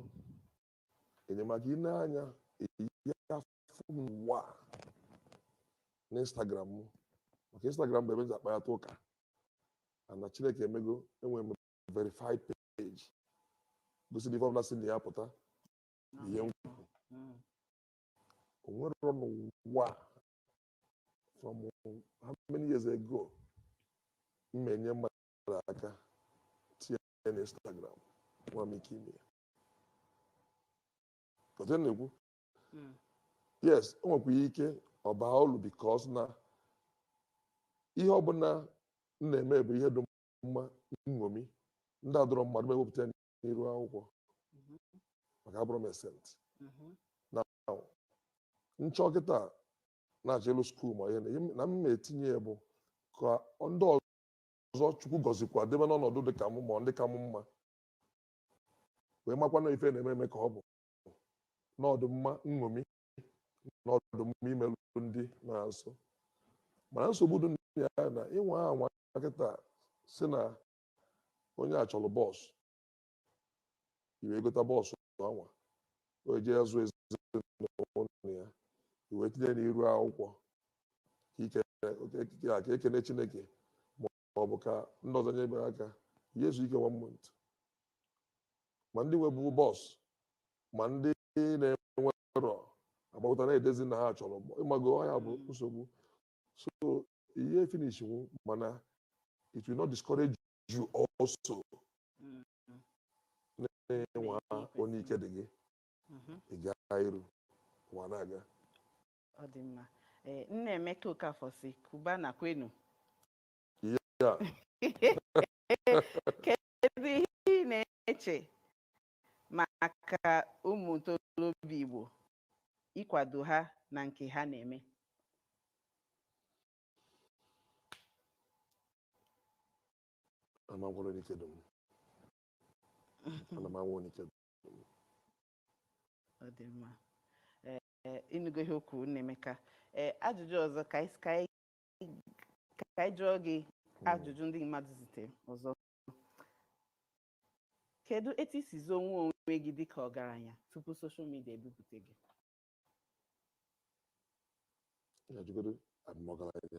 enyemaka ị na-anya eyi afọ fụ m n'ụwa a n'instagram m maka instagram bụ ebe m ji akpayata ụka ana chineke emego enwere m verified page gosiri ife ọbụla si na ya pụta ihe m kwuru o nwerọ n'ụwa a from how many years ago m na-enye mmadụ aka tinye ya na instagram nwe m ike ime ya ọtụ na-ekwu yes o nwekwara ike ọ baa ulu because na ihe ọbụla m na-eme bụ ihe dị mma nṅomi ndị adụrọ mma adụ m ewepụta ya n'iru akwụkwọ maka abụrọ m a saint na nchọ kịta na-achọ elu skuul ma ihe na ihe m- na m na-etinye ya bụ ka ndị ọzọ chukwu gọzikwa debe n'ọnọdụ dị ka m ma ndị ka m mma wee makwanụ ife na-eme eme ka ọ bụ na ọ dụ mma nṅomi na ọ dụ mma imerụ ndị nọ nso mana nsogbu dị na ya na ị nwaa anwa kịta si na onye a chọrọ bus i wee gota bus anwa o ji azụ ezinụlọ ya i wee tinye n'iru akwụkwọ ka eke- ka ekene chineke ma ma ọ bụ ka ndị ọzọ nyebe aka ya ezu ike one month ma ndị nwebu bọs ma ndị na-enwerọ agbakọta na-edezi na ha chọrọ bọs ịmago ọ ya bụ nsogbu so ihe finish nwu mana it will not discourage you also na-anwa one ike dị gị ị gaa iru ụwa na-aga Ọ dị mma. Ee, Nnaemeka Okafor sị Cubana kwenu. Ya. Kedu ihe ị na-eche maka ụmụ ntorobịa Igbo ịkwado ha na nke ha na-eme? Ana m anwa one ike dị m. Ana m anwa one ike dị m. Ọ dị mma. Ee, ịnụgo ihe o kwuru Nnaemeka ee ajụjụ ọzọ ka anyị ka anyị ka anyị jụọ gị ajụjụ ndị mmadụ zitere ọzọ kedu etu i si zoo onwe onwe gị dịka ọgaranya tupu soshal midia ebupụta gị Ya jụgodo abụ m ọgaranya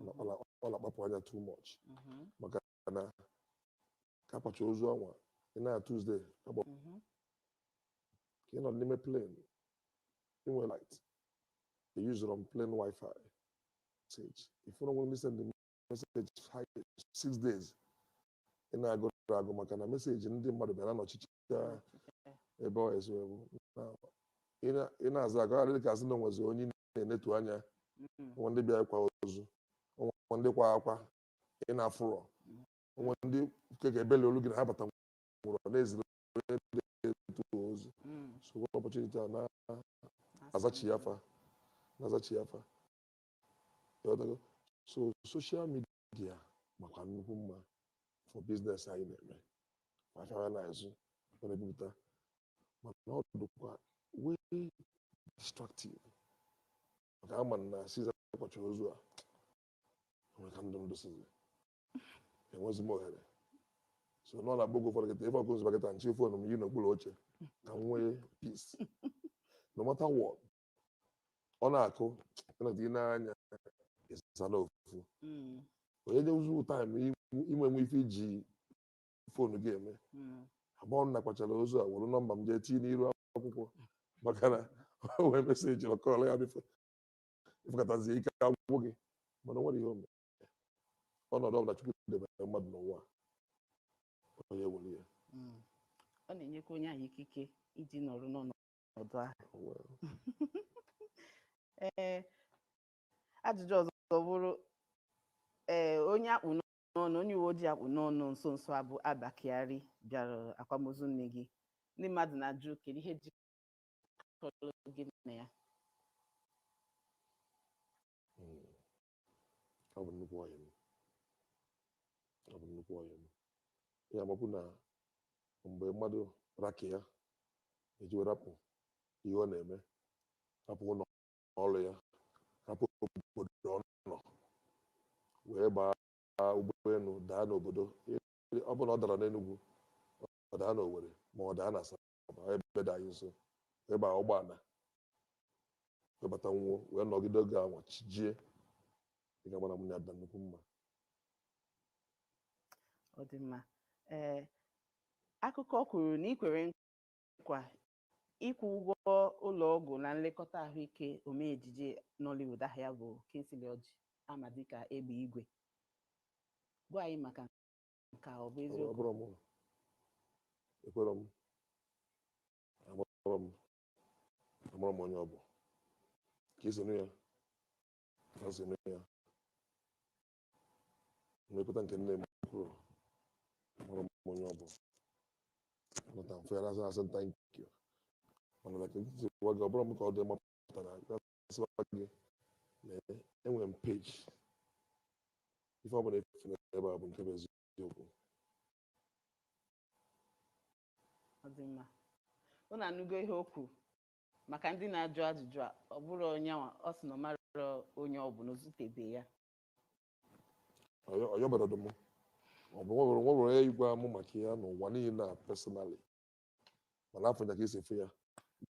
ọ na-akpapụ anya too much maka na ka a kwacha ozu a nwa ị na Tuesday agba ka ị nọ n'ime plane i nwe light e yuzuru m plane wifi message ị fụ na o nwere ndị send message five six days ị na-agụrụ agụ maka na meseji ndị mmadụ bịara n'ọchịchị ya ebe ọ esi ewu Na- ị na- ị na-aza ka ọ ghara ịdị ka a sị na o nwezi onye ị na-enetu anya Mm. o nwe ndị bịa ịkwa ozu o nwe ndị kwa akwa ị na-afụrọ o nwe ndị keke ebele olu gị na ha abatanwurọ na-eziri onye ndị etu ozu Mm. so one opportunity a na-azachi ya afa na-azachi ya afa Ịghọtago? so soshal midia makwa nnukwu mma for biznes anyị na-eme ma afịa anyị na-azụ ọ na-ebupụta mana ọ dịkwa wee distractive maka ama na since a kwacha ozu a nwere ka ndụ m dịsizi enwezi m ohere so ọ na-abụ oge ụfọdụ kịta ife ọkụ nzụba kịta m chi fon m yi n'okpuru oche ka m nwee peace no matter what ọ na-akụ ị nọdụ ị na-anya ị zaa ofu Mm, onye nye ụzụ taịm i nwe nwe ife i ji foonu gị eme mm. ebe ọ bụ na a kwachara ozu a were nọmba m jee tinye n'iru akwụkwọ maka na o wee meseji ọkọọla ya bifo ị fụkọtazie ike agwụgo gị mana o nwere ihe o mere ọnọdụ ọbụla Chukwu debere mmadụ n'ụwa a, onye were ya Mm. ọ na-enyekwa onye ahụ ikike iji nọrọ n'ọnọdụ ọdụ ahụ ee ajụjụ ọzọ bụrụ ee onye a kpụ n'ọnụ onye uwe ojii a kpụ n'ọnụ nso nso a bụ Abba Kyari bịara akwamozu nne gị ndị mmadụ na-ajụ kedu ihe jikọrọ gị na ya ọ bụ nnukwu ọyị m ọ bụ nnukwu ọyị m ya mabụ na mgbe mmadụ ra ka ya eji wee rapụ ihe ọ na-eme rapụ ụlọ ọrụ ya rapụ obodo ọ nọ wee gbaa ụgbọelu daa n'obodo ọ bụ na ọ dara n'Enugu ọ daa n'Owerri ma ọ daa n'Asaba ebe dị anyị nso wee baa ụgbọala wee bata n'ụnọ wee nọgide oge a nwa chi jie ị ga-ama na mụ na ya dị nnukwu mma ọ dị mma ee akụkọ kwuru na i kwere nkwa ịkwụ ụgwọ ụlọ ọgwụ na nlekọta ahụike omee ejije Nollywood aha ya bụ Kingsley Orji a ma dịka Egbe Igwe gwa anyị maka nke a ọ bụ eziokwu Ọ bụrọ m ekwerọ m amarọ m amarọ m onye ọ bụ ka i si nụ ya ka m si nụ ya nlekọta nke nne m kwuru amarọ m onye ọ bụ nọta mfe ya na-asị asị nta nke mana na ka m si gwa gị ọ bụrọ m ka ọ dị mma pụtara sịwa gị na enwere m peji ife ọ bụla etinye ebe a bụ nke bụ eziokwu ọ dị mma unu anụgo ihe o kwuru maka ndị na-ajụ ajụjụ a ọ bụrọ ya nwa ọ sị na ọ marọ onye ọ bụ na o zutebe ya Ọ yọ- ọ yọberọdụ m o nwerọ nwerọ onye gwara m maka ya n'ụwa niile a personally mana afụrụ m ya ka i si afụ ya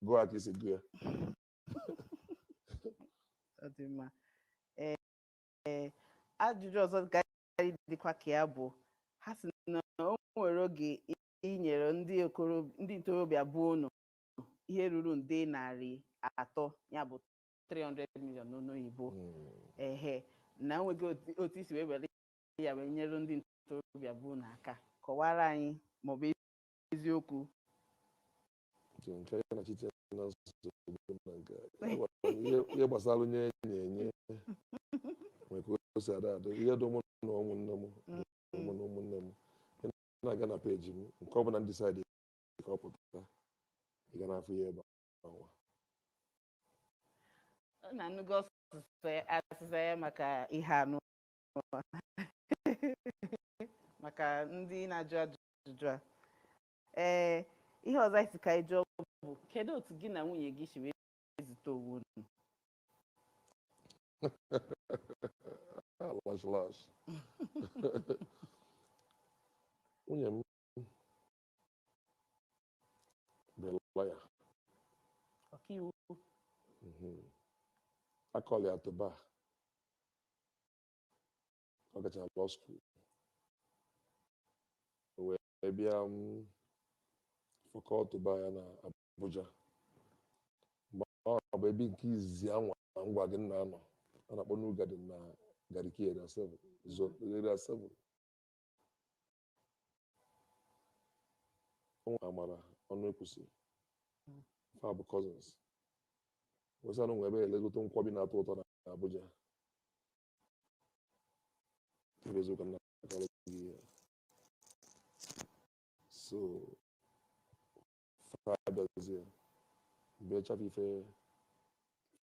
gụọ ya ka i si gụọ ya ọ dị mma ee ee, ajụjụ ọzọ ga-adịkwa ka ya bụ ha sị na o nwere oge i- i nyere ndị okoro ndị ntorobịa be unu ihe ruru nde narị atọ ya bụ 300 million n'olu oyibo Mm. ehe na e nwere otu- otu i si wee were ya wee nyere ndị ntorobịa be unu aka kọwara anyị ma ọ bụ eziokwu nke nke ya na chiche na nsogbu na nke a. Ya gwara m ihe ihe gbasara inye onyinye nwere ka o si ada ada ihe dị mụ na ụmụnne m mụ na ụmụnne m ị na-aga na peji m nke ọ bụla m decide ka ọ pụta ị ga na-afụ ya ebe ahụ Unu anụgo ọsịsa ya- azịza ya maka ihe ahụ maka ndị na-ajụ ajụjụ a ee ihe ọzọ anyị si ka anyị jụọ bụ kedu otu gị na nwunye gị si wee zute onwe unu Alas, alas. Nwunye m bụ lọya. ọkaiwu Mhm. A call ya to bar. ọ gachara law school o wee bịa for call to bar ya na Abuja mgbe ahụ bụ ebe nke izizi anwa m gwa gị na m nọ a na-akpọ New Garden na Garki area 7 zone area 7 ọnwa Amara Ọnụekwusi fa bụ cousins wee sị na o nwe ebe elegote nkwọbi na-atọ ụtọ na Abuja Ebe eziokwu na akọrọ gị ihe. So, fa abịazie, bịa chafụ ife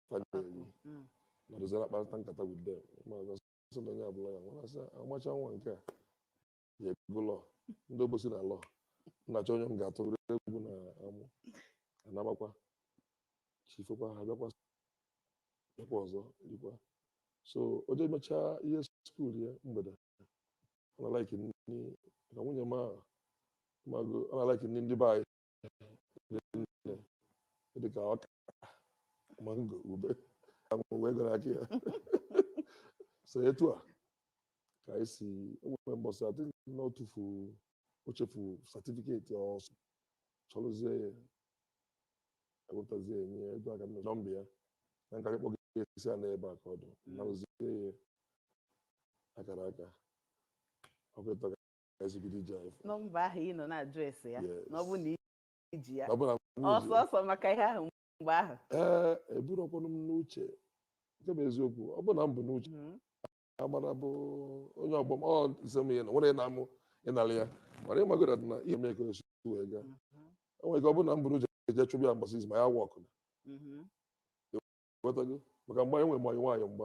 fa na-eri. Mm. nọdụzara kparịta nkata with them ma ọ sị na onye ọbụla ya nwere asị ọmalịcha nwa nke a ya ebigo law ndị Obosi na law m na-achọ onye m ga-atụrụ egwu na amụ anamakwa chifekwa ha bịakwa bịakwa ọzọ likwa so o jee mechaa ihe skuul ya mgbede ọ na-alaiki nri ka nwunye m a mago ọ na-alaiki nri ndị be anyị dịka ọka mango ube anwụ wee gara aka ya so etu a ka anyị si o nwere mbọsị adị na o tufu o chefu certificate ọ sị chọrọzie ya ewepụtazie ya nye ego aka nọ nọmba ya na nka kpọọ gị esi a n'ebe a ka ọ dụ narụzie ya akara aka ọkụtọ nọmba ahụ ị nọ na-ajụ ese ya na ọ bụ na iji ya ọsọ ọsọ maka ihe ahụ mgbe ahụ ee eburọkwanụ m n'uche nke bụ eziokwu ọ bụ na m bu n'uche mhm. Amara bụ onye ọgbọ m ọ dịsị m ihe na nwere na-amụ ịnara ya mana ị magoro na ihe mee ka e si wee gaa o nwere mhm. ike ọ bụ na m bu n'uche eje chụbụ ya mgbasa izu ma ya work mhm. maka mgbe anyị nwere manyị nwaanyị mgbe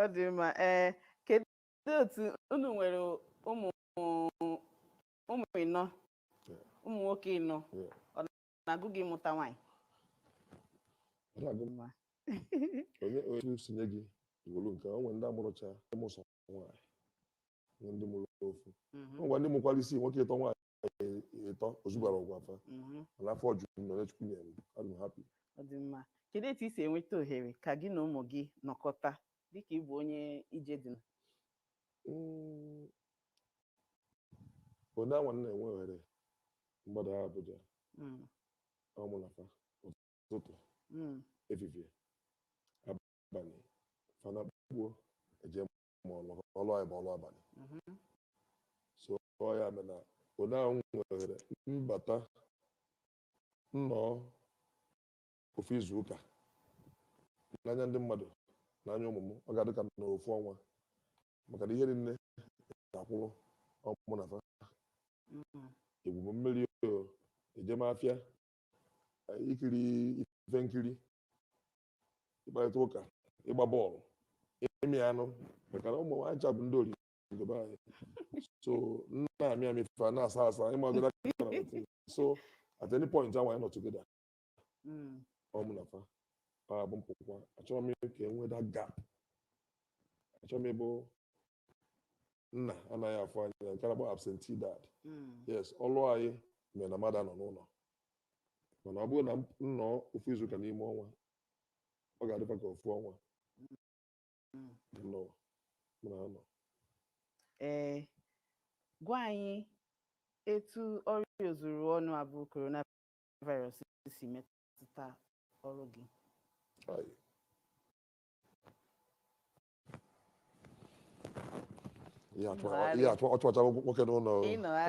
ọ dị mma ee kedu otu unu nwere ụmụ ụmụ ịnọ ụmụ nwoke ịnọ Yeah. ọ na-agụ gị mụta nwaanyị Ọ na-agụ m, onye onye m si nye gị i wolu nke o nwere ndị amụrọcha ndị mụ sọ nwaanyị nwee ndị mụrụ ofu Mhm. o nwere ndị mụkwara isii nwoke ịtọ nwaanyị eh, ịtọ ozugwara ọgwụ afa mhm. mana afọ juru m n'ịnọ chukwu nyere m adị m hapi ọ dị mma kedu etu i si enweta ohere ka gị na ụmụ gị nọkọta dịka ị bụ onye ije dị na Mm. onye anwa na-enwe ohere m gbadaa Abuja Mm, ọ mụ na fa ụtụtụ mm, efifie abalị fa na-akpụ eje maka na ọrụ anyị bụ ọrụ abalị so ọ ya mere na onye ahụ nwee ohere m bata nọọ ofu izu ụka n'anya ndị mmadụ n'anya ụmụ m ọ ga-adị ka m nọrọ ofu ọnwa maka na ihe niine ga-akwụrụ ọ mụ na fa igwu mmiri o ije afịa ikiri ife nkiri ịkparịta ụka ịgba bọọlụ ịmị anụ maka na ụmụ nwaanyị cha bụ ndị oringo be anyị so m na-amị amị fa na-asa asa ị mago that kind of thing. so at any point ahụ anyị nọ together Mm. ọ mụ na fa ọ bụ mpụkwa achọrọ m ka e nwee that gap achọrọ m ịbụ nna anaghị afụ anya nke a na-akpọ absentee dad Mm. yes ọlụ anyị mere na mmadụ anọ n'ụlọ mana ọ bụrụ na m nọọ ofu izuụka n'ime ọnwa ọ ga-adịkwa ka ofu ọnwa Mm. dị n'ụwa m na-anọ ee gwa anyị etu ọrịa ozuru ọnụ a bụ coronavirus si metụta ọrụ gị Ayi. ihe achụ- ihe achụ- ọ chụwachago nwoke n'ụlọ o.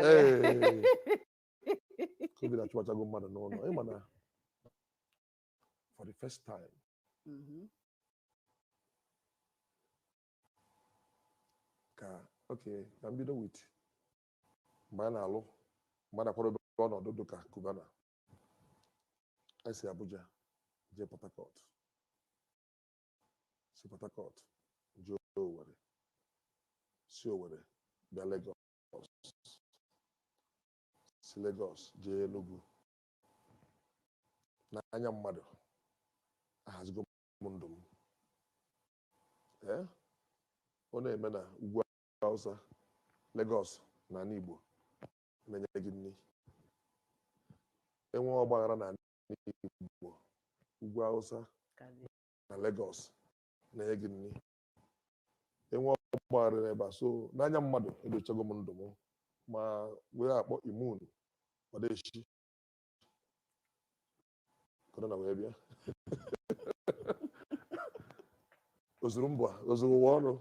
Ee. covid achụwachago mmadụ n'ụlọ ị ma na for the first time Mhm. ka okay ka m bido with mgbe a na-alụ mgbe a na-akwadobe ọnọdụ dị ka Cubana e si abuja jee port harcourt si Port Harcourt jee Owerri si Owerri bịa Lagos si Lagos jee Enugu n'anya mmadụ ahazigo m ndụ m ee ọ na-eme na ugwu Hausa Lagos na ala Igbo na-enye gị nri e nwee ọgbaghara na ala ugwu awụsa na Lagos na-enye gị nri e nwee ọgbaghara n'ebe a so n'anya mmadụ edochago m ndụ m ma wee akpọ immune ọdachi korona wee bịa ozuru mba ozuru ụwa ọrụ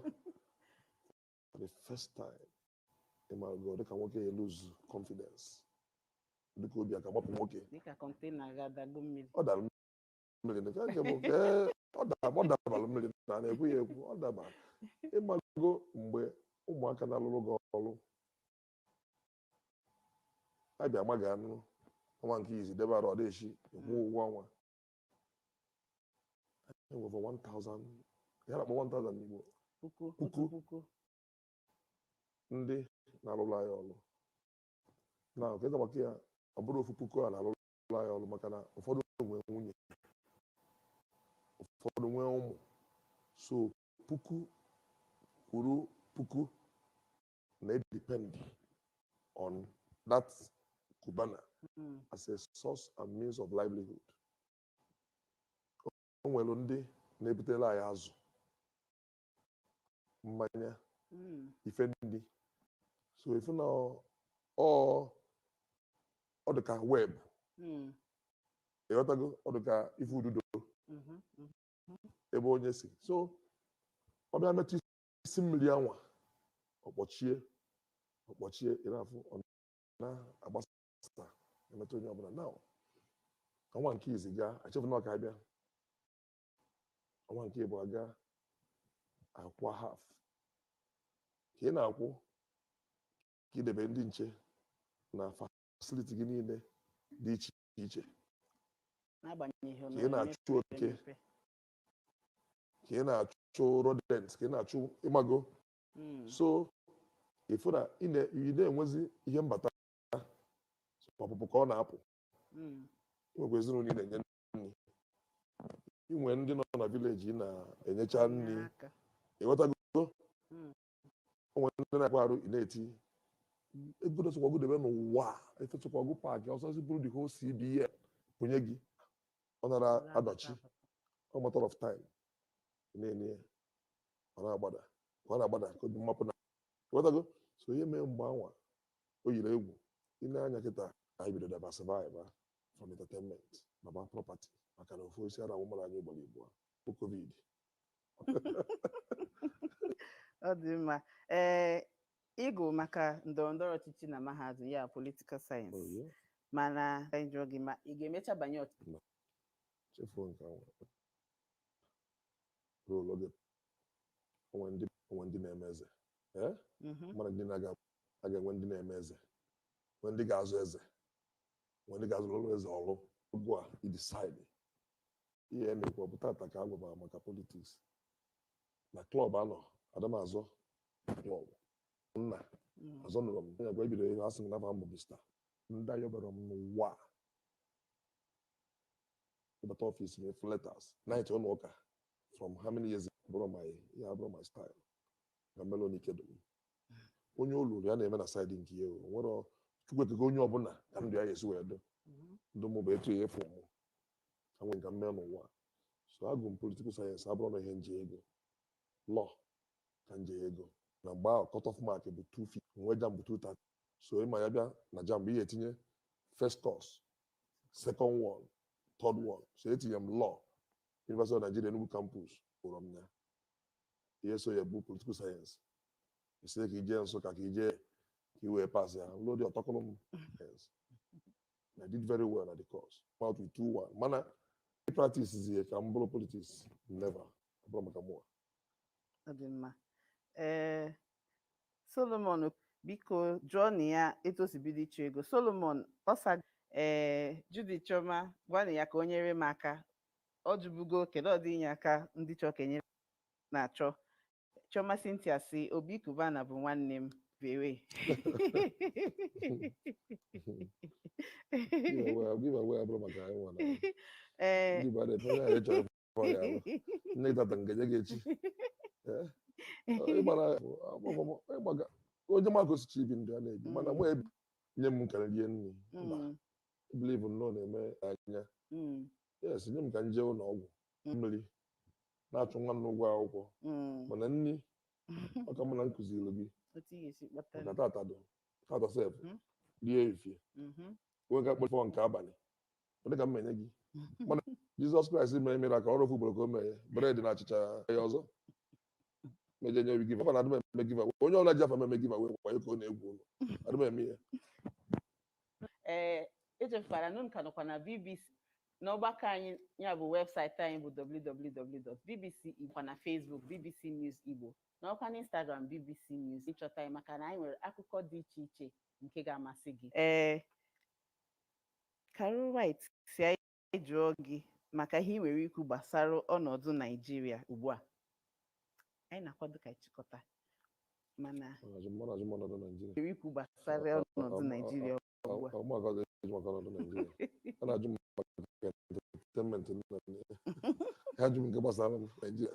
for the first time ịmago dịka nwoke e lose confidence dịka obi a ka-amapụ nwoke dịka kọntena ga-adagbu mmiri ọ dara mmiri nke nke bụ nke ọ dara ọ dabara mmiri na a na-ekwu ya ekwu ọ daba ịmago mgbe ụmụaka na-alụrụ gị ọrụ a bịa ma gị anụ ọnwa nke izi debe arụ ọ dịchi ịkwụ ụgwọ ọnwa Enwere over 1,000 ya na-akpọ 1,000 n'Igbo puku Puku. otu puku ndị na-alụrụ anyị ọrụ na nke ka maka ya ọ bụrọ ofu puku a na-alụrụ anyị ọrụ maka na ụfọdụ nwee nwunye ụfọdụ nwee ụmụ so puku kwuru puku na-edepend on that Cubana mm. as a source and means of livelihood. O nwere ndị na-ebutere anyị azụ mmanya hmm. ife ndị so ịfụ na ọ dị ka web hmm. ịghọtago ọ dị ka ife ududo mm-hmm, mm-hmm. ebe onye si so ọ bịa metụ isi mmiri anwa ọ kpọchie ọ kpọchie ị na-afụ ọ na-agbasa emetụ onye ọbụla na ọnwa nke izi gaa achọfụ na ọ ka-abịa ọnwa nke ịbụa gaa a kwụa haf ka ị na-akwụ ka i debe ndị nche na fasiliti gị niile dị iche iche n'agbanyeghị ihe ka ị na-achụ oke ka ị na-achụ rodents ka ị na-achụ ịmago Mm. so ịfụ na ị na- ị na-enwezi ihe mbata ọpụpụ ka ọ na-apụ Mm. inwekwa ezinụlọ ị na-enye nri inwe ndị nọ na vileji ị na-enyecha nri Inye aka. ịghọtago Mm. o nwere ndị na-akwa arụ ị na-eti ego dosokwago debe n'ụwa efesokwago paakị ọsọsị bụrụ the whole CBN e nye gị ọ nara adọchi a matter of time ị na-enye ya ọ na-agbada ọ na-agbada ka obi mmapụ na ịghọtago so ihe mee mgbe anwa o yiri egwu ị nee anya kịta anyị bido diversify from entertainment baba property maka na ofu isi ara wụmara anyị ugboro igbo bụ covid ọ dị mma ee ị gụrụ maka ndọrọndọrọ ọchịchị na mahadum ya politikal sayensị Oh, yeah. mana ka anyị jụọ gị ma ị ga-emecha banye ọchịchị chefuo nke ahụ ruo oge onwe ndị onwe ndị na-eme eze ee Mhm. mmadụ ndị na-aga a ga-enwe ndị na-eme eze nwe ndị ga-azọ eze nwe ndị ga-arụrụ eze ọrụ ugbu a i decide ihe m na-ekwu ọ bụ tata ka a gwabara maka politiks na klọb anọ adị m azọ klọb nna Mm. azọ nụrụ m onye agwa ebido ihe asị m na afa m bụ bista ndị anyị ọbara m n'ụwa a. ị bata ọfịs m ị fụ letters ndị ụlọ ụka from how many years ago? bụrụ my ya bụrụ my style na melon ikedo m onye o lulu ya na-eme na saịdị nke ya o nwere chukwu ekego onye ọbụla ka ndụ ya ga-esi wee dị Mhm. ndụ mụ bụ etu a ị fụ mụ enwe m ka m mee n'ụwa so agụ m political science abụrọ ihe m je ịgụ law ka m je ịgụ na mgbe ahụ cut-off mark bụ 250 nwe JAMB 230 so ị ma ya bịa na JAMB ị ya-etinye first course second one third one so etinye m law University of Nigeria Enugu campus kpọrọ m ya ihe so ya bụ political science a sị ka i jee Nsụka ka i jee ka i wee pass ya law dị ọtọkụlụ m I did very well na the course out with 2-1 mana practice zie ka m bụrụ politics never ọ bụrụ maka mụwa ọ dị mma ee solomon biko jụọnụ ya etu o si bido ịchụ ego solomon ọsa ee Judy Chioma gwanụ ya ka o nyere m aka ọ jụbugo kedu ụdị inye aka ndị chọọ ka e nyere na-achọ Chioma Cynthia sị Obi Cubana bụ nwanne m bere. Ee. Nne tata nke nye gị echi. Onye ma ka o si chọọ ibi ndụ ya na-ebi mana mụ ebi nye m ka m rie nri. Mba. Bilivu nnọọ na-eme anya. yes nye m ka m jee ụlọ ọgwụ Mm. maybe a na-achụ nwa m n'ụgwọ akwụkwọ Mm. mana nri ọ ka mma na m kuziri gị otu ị ga-esi kpata maka tata bụ tata sef Mhm. rie efie Mhm. onwe ka kpọfọ nke abalị onye ka m menye gị mana jizọs kraịst mere miracle ofu ugboro ka o mere bred na achịcha ya ọzọ meje nye giveaway adị m eme giveaway onye ọbụla ji afa m eme giveaway wayo ka ọ na-egwu unu adị m eme ya ee echefukwala na unu ka nọkwa na bbc n'ọgbakọ anyị ya bụ webụsaịtị anyị bụ www.bbc Igbo na Facebook bbc News Igbo nọkwa na Instagram bbc News ị chọta anyị maka na anyị nwere akụkọ dị iche iche nke ga-amasị gị ee Carol White sị anyị anyị jụọ gị maka ihe i nwere ikwu gbasara ọnọdụ Naijiria ugbu a anyị na-akwado ka ị chịkọta mana nwere ikwu gbasara ọnọdụ Naijiria ugbu a ajụ m nke gbasara Naijiria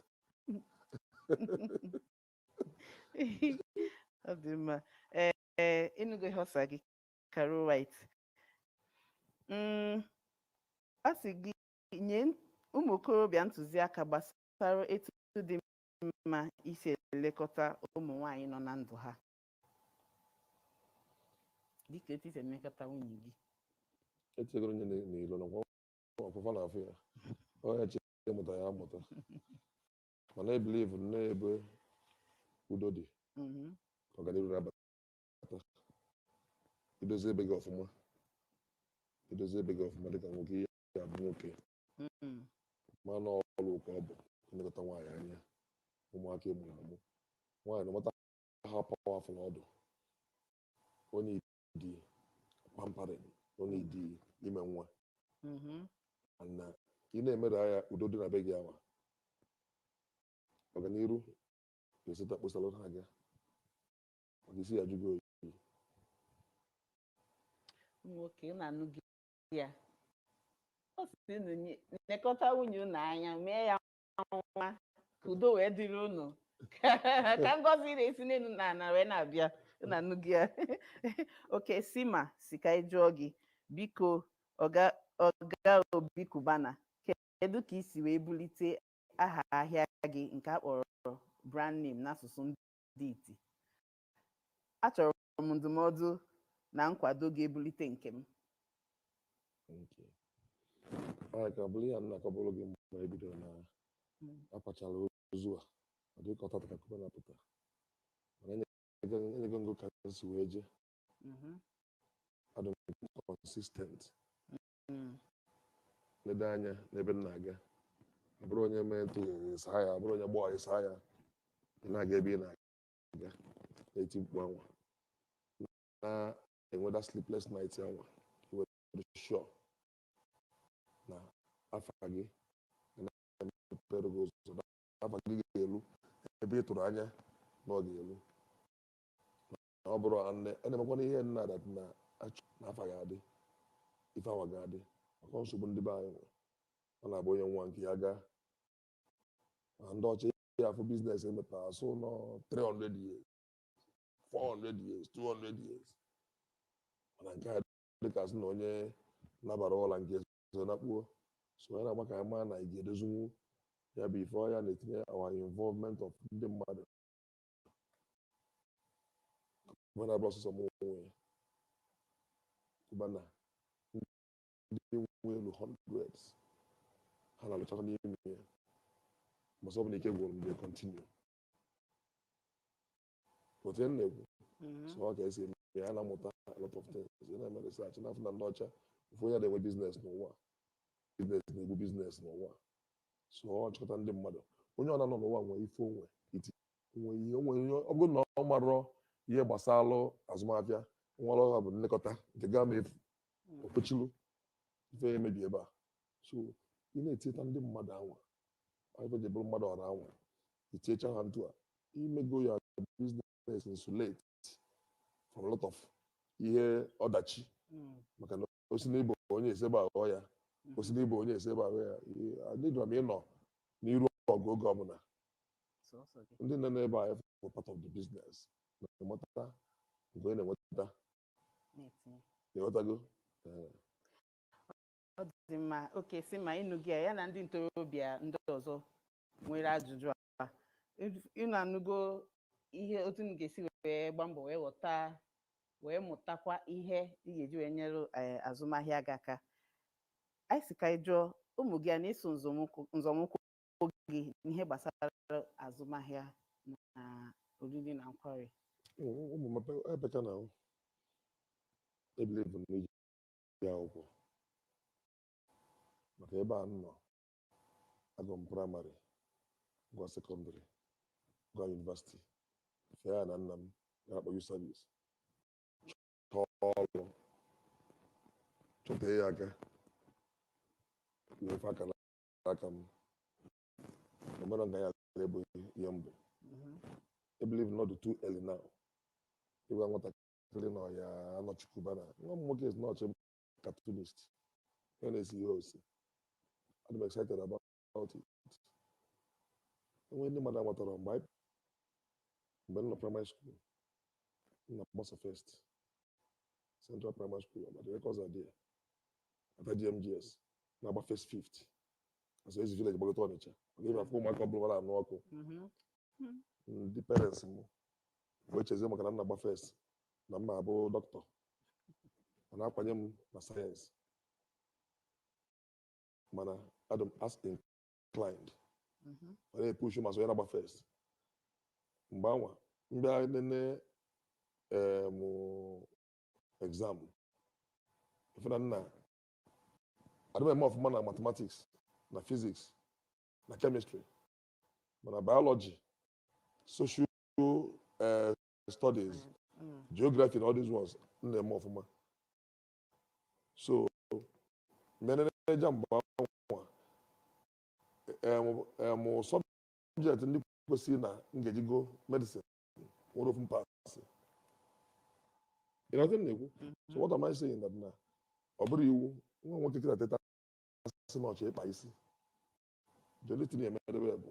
ọ dị mma ee ị nụgo ihe ọ sa gị Carol White mm, a sị gị nye ụmụ okorobịa ntụziaka gbasara etu dị mma isi elekọta ụmụ nwanyị nọ na ndụ ha dịka etu i si elekọta nwunye gị echegoro onye na- n'ilo nakwa ọfụfa na afọ ya onye che mụta ya amụta mana ebilivu na ebe udo dị Mhm. ka ọganihu na-abata ata i dozie be gị ọfụma i dozie be gị ọfụma dịka nwoke ị ya-abụ nwoke Mm. mana ọrụ ụka ọ bụ ilekọta nwaanyị anya ụmụaka ị mụrụ amụ nwaanyị no matter how powerful ọ dụ ọ needị pampering ọ needị ime nwa Mhm. na ị na-emere ya udo dị na be gị awa ọganiru ga-eseta kposara ha gị maka isi ya jụgo oyi nwoke unu anụghị ya ọ sị unu nye- nekọta nwunye unu anya mee ya nwa ka udo wee dịrị unu ka ngọzi na-esi n'elu na ala wee na-abịa unu anụghị ya okay Sima sị ka anyị jụọ gị biko ọga ọga Obi Cubana kedu ka i si wee bulite aha ahịa gị nke a kpọrọ brand name n'asụsụ ndị dị iti achọrọ m ndụmọdụ na nkwado ga-ebulite nke m Thank you. All right, ka ọ bụrụ ihe m na-akọbụrụ gị mgbe e bidoro na a kwachara ozu a ọ dị ka ọ tata ka Cubana pụta mana enyego enyego m gị ka m si wee je Mhm. adụ m consistent Mm. ledo anya n'ebe m na-aga ọ bụrọ onye mee ntụ ị saa ya ọ bụrọ onye gbọọ ị saa ya ị na-aga ebe ị na-aga na-eti mkpu anwa na-enweta sleepless night anwa ị were sure na afa gị na-emepere gị ụzọ na afa gị ga-elu ebe ị tụrụ anya na ọ ga-elu Ọ bụrụ ha nne, ọ na-emekwana ihe nna that na-achọ na afa ga-adị, ife awa ga-adị. Maka nsogbu ndị be anyị nwe. Ọ na-abụ onye nwụa nke ya agaa. Ma ndị ọcha ị ya-afụ business emepe asụ nọ 300 years, 400 years, 200 years. Mana nke a dịka a sị na onye nabara ụla nke eso nakpuo. So ya na-agba ka anyị mara na anyị ga-edozinwu ya bụ ife ọ ya na-etinye our involvement of ndị mmadụ Cubana abụrọ sọsọ m nwe ya Cubana ndị nwe elu hundreds ha na-alụchakwa n'ime ya mbọsị ọbụla ike gwụrụ mgbe kọntinu ọ bụ ife m na-ekwu so ọ ka esi eme ya na-amụta a lot of things ya na-eme research na-afụ na ndị ọcha ofu onye ada enwe biznes n'ụwa biznes na-egbu biznes n'ụwa so ọ chịkọta ndị mmadụ onye ọ na-anọ n'ụwa nwee ife onwe iti ọ bụrụ na ọ marọ ihe gbasara azụmafịa nwere ọha bụ nlekọta nke gaa ma efu okpochilu ife emebi ebe a so ị na-etinyeta ndị mmadụ anwa ife ji bụrụ mmadụ ọra anwa itinyecha ha etu a i mego ya biznes insulate from a lot of ihe ọdachi Mm. maka na o si n'ịbụ onye ese gbaghọ ya o si n'ịbụ onye ese gbaghọ ya Ee, adịghị m ịnọ n'iru ọgụ oge ọbụla sọsọ gị ndị nọ n'ebe a bụ part of the business na-enweta nke onye na-enweta na-etinye ị ghọtago Ee. ọ dị mma oke si ma ịnụ gị a, ya na ndị ntorobịa ndị ọzọ nwere ajụjụ a ụnụ anụgo ihe otu ị ga-esi wee gba mbọ wee ghọta wee mụtakwa ihe ị ga-eji wee nyere eh, azụmahịa gị aka anyị si ka anyị jụọ ụmụ gị ha na-eso nzọmụkwụ gị n'ihe gbasara azụmahịa na oriri na nkwari ụmụ m ebe- ebe ka na-ebelieve n'ije akwụkwọ maka ebe a m nọ agụ m praịmarị gụọ sekọndịrị gụọ yunivasiti fee ana nna m a na-akpọ youth service chọọ ọrụ chọtee ya aka wee fe aka na aka m omere nga ya bụ ihe mbụ I believe na ọ dị too early now ịgwa nwatakịrị na ọ ya-anọchi Cubana nwa m nwoke is not cartoonist ya na-ese ihe osise I'm excited about it enwe ndị mmadụ amatarọ mgbe anyị mgbe m nọ primary school m na-agba sọ first central primary school ma the records are there after DMGS na-agba first fifth as e si village gbagota Ọnịcha ka ị bịa fụ ụmụaka ụbụlụ na-anụ ọkụ ndị parents m wee chezie maka na m na-agba first na m ma-abụ dọkịta ọ na-akwanye m na sayensị mana adị m arts inclined ma na-epushu ma so ya na-agba first mgbe anwa m bịa nene em exam ị fụ na na adị m eme ọfụma na mathematics na physics na chemistry mana biology social eh, studies geography na all these ones m na-eme ọfụma so m nee JAMB anwa em subject ndị kwesịrị na m ga-eji gụọ medicine nwerọ ofu m paasị ị ghọta ife m na-ekwu so what am I saying that na ọ bụrụ i nwee nwa nwoke kịta teta sị na ọ chọ ịkpa isi the only thing m ya-eme n'ebe ya bụ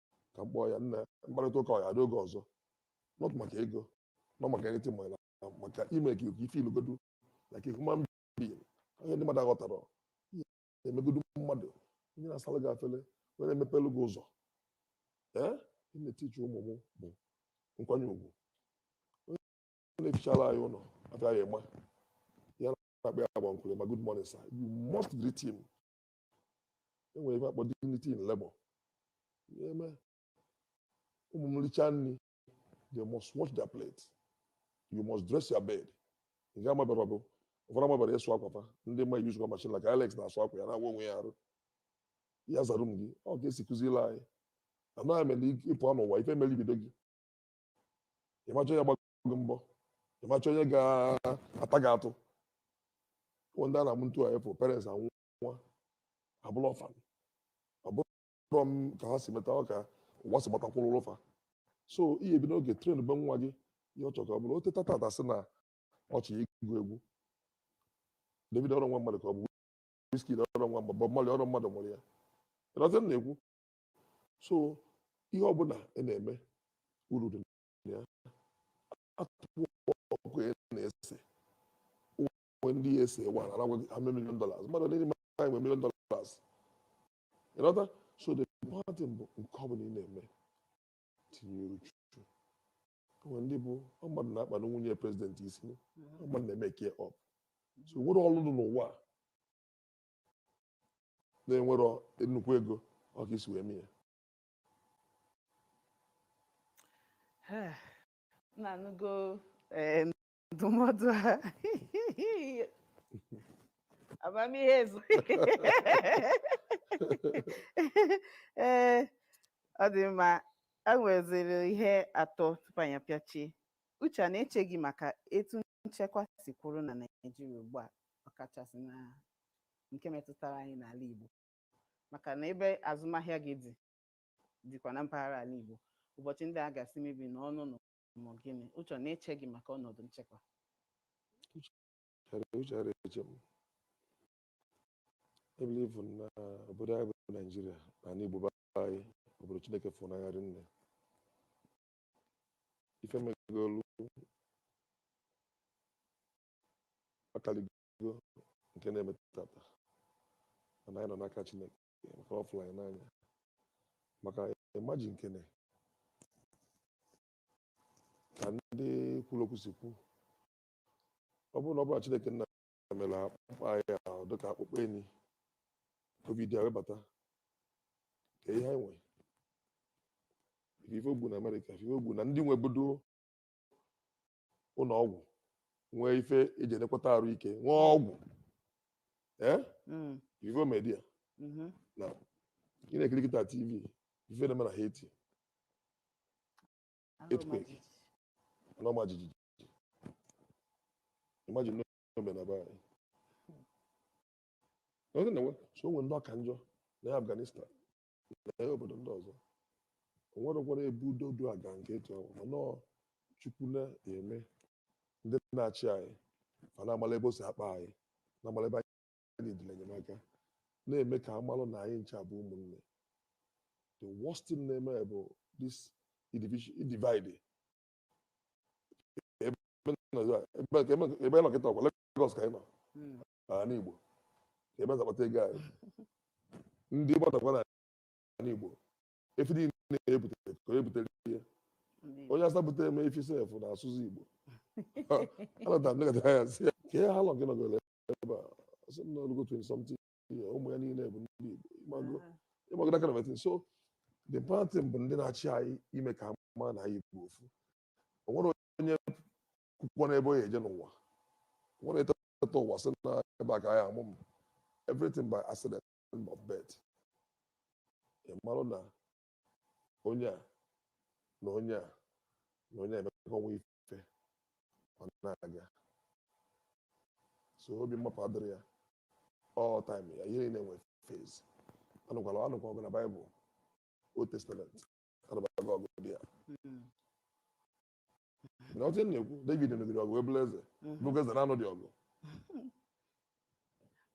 ka m kpọọ ya na mkparịta ụka ọ ya n'oge ọzọ not maka ego not maka anything ma maka ime ka ife ilugodu like a human being onye ndị mmadụ aghọtara i megodu mmadụ onye na-asara gị afele onye na-emepelu gị ụzọ ife m na-etichi ụmụ m bụ nkwanye ugwu onye na-efichara anyị ụlọ afa ya ị ma ya na-akpọ ya ọ bụ uncle ma good morning sir you must greet him e nwere ife a kpọ dignity in labor em ụmụ m richaa nri they must wash their plate you must dress your bed ị ga amabara ọgụ ụfọdụ amabara ịsụ akwa fa ndị ma yuzukwa machine like Alex na-asụ akwa ya na-awụ onwe ya arụ ya zaa room ya ọ ka e si kụziri anyị anaghị mere ị pụ n'ụwa ife mere ibido gị ị ma-achọ onye gbago gị mbọ ị ma-achọ onye ga-ata gị atụ ndị a na-amụ ntu a ị fụ parents anwụ nwa abụrụ orphan ọ bụrọ ka ha si meta ọ ka ụwa si gbatakwuru fa so ị ya-ebido n'oge trenbe nwa gị ihe ọ chọrọ ka ọ bụrụ o teta tata sị na ọ chọ ịgụ egwu Davido ọrọ nwa mmadụ ka ọ bụ Wizkid ọrọ nwa mmadụ Bob Marley ọrọ mmadụ mụrụ ya ị ghọta ife m na-ekwu so ihe ọbụla ị na-eme uru dị na ya artwork ị na-ese o nwe ndị ya-ese ewa a na-agwa gị how many million dollars mmadụ niile ma anyị nwe million dollars ị ghọta so the important thing bụ nke ọ bụla ị na-eme tinye uchu o nwe ndị bụ ọ mmadụ na-akpanụ nwunye president isi ọ mmadụ na-emake up so o nwerọ ọrụ dị n'ụwa a na-enwerọ nnukwu ego ọ ka i si wee mee ya na-anụgo em, ndụmọdụ ahụ amamihe ezu ee ọ dị mma a nweziri ihe atọ tupu anyị apịachie uche a na-eche gị maka etu nchekwa si kwụrụ na naijiria ugbu a ọkachasị na nke metụtara anyị n'ala igbo maka na ebe azụmahịa gị dị dịkwa na mpaghara ala igbo ụbọchị ndị a gasị mebi na ọnụ na ma ọ gịnị uche ọ na-eche gị maka ọnọdụ nchekwa uche ara eche m ebilivu na obodo anyị bụ naijiria na ala igbo be anyị obodo chineke fụrụ n'anya rinne ife megolu akaligo nke na-eme tata mana anyị nọ n'aka chineke maka ọ fụlụ anyị n'anya maka imagine nkene ka ndị kwuru okwu si kwu ọ bụrụ na ọ bụrọ na Chineke nna mere akpụkpọ anyị ọ dịka akpụkpọ enyi covid a webata ka ihe anyị nwe ị fụ ife o gbu na Amerịka ị fụ ife o gbu na ndị nwebudo ụlọ ọgwụ nwee ife eji enekwata arụ ike nwee ọgwụ ee Mm. ife o me India Mhm. ị na-ekiri kịta tv ife na-eme na haiti Earthquake. ana ọma jijiji imagine na o me na be anyị Ọ sị na nwe- so o nwere ndị ọ ka njọ na afghanistan nee obodo ndị ọzọ o nwerekwara ebe udo du aga nke etu ahụ mana ọ chukwu na-eme ndị na-achị anyị ma na-amala ebe o si akpa anyị na-amala ebe anyị dịlị enyemaka na-eme ka amalụ na anyị ncha bụ ụmụnne the worst thing na-eme bụ this division divide ebe nọ- ebe- ebe nọ kịta ọ kwa Lagos ka anyị nọ n'ala Igbo ka ebe e si akpata ego anyị ndị Igbo nọkwa n'ala Igbo efi niile na-ebutere ka onye butere ihe onye awụsa butere m efi sef na-asụzi Igbo anọta m nekọta ya sị ya ka ihe ha lọ gị nọgoro ebe a ọ sị m na o lugo 20 something year ụmụ ya niile bụ ndị Igbo ịmago ịmago that kind of a thing so the important bụ ndị na-achị anyị ime ka a ma na anyị bụ ofu o nwere onye kwukwa n'ebe ọ ya-eje n'ụwa nwa na-eteta ụwa sị na ebe a ka a ya-amụ m everything by accident of birth ị marụ na onye a na onye a na onye a emekọ nwa ife ọ na-aga so obi mmapụ adịrị ya all time ya ihe niile nwere phase anụkwala anụkwa ọgụ na baịbụl old testament anụbago ọgụ dị ya na otu m na-ekwu David nụgide ọgụ wee bụrụ eze Mhm. bụkwa eze na-anụ dị ọgụ